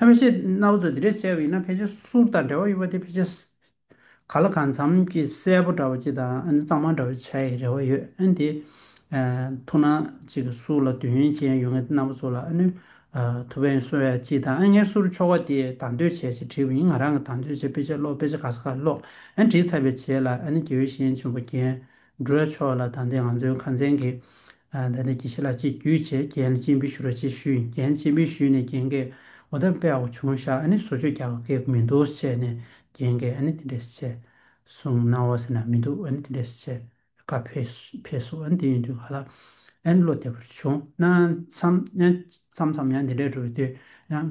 S1: ལྷ་མི་ཤེས་རྣ་བ་ཚོ་འདི་འདྲས་གསལ་བ་ཡིན་ན་ཕལ་ཆེར་གསུར་དང་འདྲ་བ་ཡོད་པ་དེ་ཕལ་ཆེར། ག་ལ་གང་འཚམ་གྱི་གསལ་པོ་འདྲ་བ་ཅིག་དང་ཨ་ནི་གཙང་མ་འདྲ་བ་ཆགས་ཡི་རེ་བ་ཡོད་ཨ་འདི། ཐུགས་སྣང་ཅིག་གི་གསུར་ལ་འདོད་ཡོན་ཅན་ཡོད་མཁན་རྣམ་པ་ཚོ་ལ་ཨ་ནི། ཐུགས་ཕན་གསོ་ཡ་ཅིག་དང་ཨ་ངའི་གསུར་ཆོ་ག་དེ་དང་དོད་བྱས་ཅིག་བྲིས་པ་ཡིན་ང་རང་གི་དང་དོད་བྱས་དཔེ་ཆ་ཀློག་དཔེ་ཆ་ག་ས་ག་ལ་ཀློག་ཨ་ནི་བྲིས་ཚར་བའི་རྗེས་ལ་ཨ་ནི་དགེ་འོས་གཞན་ཆེན་པོ་རྒན། སྒྲོལ་མཆོག་ལ་དང་དེ་ང་ཚོའི་ཁང་ཚན་གྱི། དེ་ནས་གྱི་ཤི་ལ་ཅིག་གུས་བྱས་རྒྱན་ལ་སྤྱིན་འབུལ་ཞུ་རོ་ཅེས་ཞུས་རྒྱན་སྤྱིན་འབུལ་ཞུས་ནས་རྒྱན་གས་འོ་ད་དཔེ་ཨའོ་བྱུང་ཤག་ཨ་ནི་བཟོ་བཅོས་རྒྱག་གི་མི་འདུག་བྱས་ནས་རྒྱན་གས་ཨ་ནི་དེ་འདྲས་བྱས་སོང་གནང་བ་ཟེར་ན་མི་འདུག་ཨ་ནི་དེ་འདྲས་བྱས་ཀ་ཕེབས་སོང་ཨ་ནི་དེ་ཡིན་དུས་ག་ལ་ཨ་ནི་བློ་བདེ་པོར་བྱུང་གནང་མཚམས་མཚམས་ཡང་དེ་འདྲས་འགྲོ་བའི་དུས་ཡང་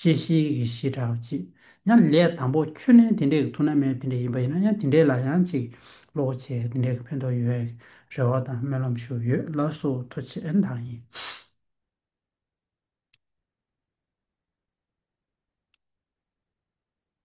S1: ཅི་ཞིག་གི་གཞི་དྲག་ཅེས་ན་ལས་དང་པོ་ཁྱོད་ནི་དེ་འདྲའི་ཐུགས་ན་མེད་དེ་འདྲ་ཡིན་པ་ཡིན་ན་ཡང་དེ་འདྲའི་ལ་ཡང་ཅིག་ལོག་བྱས་དེ་འདྲའི་ཕན་ཐོགས་ཡོད་ཡག་རེ་བ་དང་སྨོན་ལམ་ཞུ་ཡོད་ལ་སོ་ཐོ་ཆེ་ཨེ་འདང་ཡིན།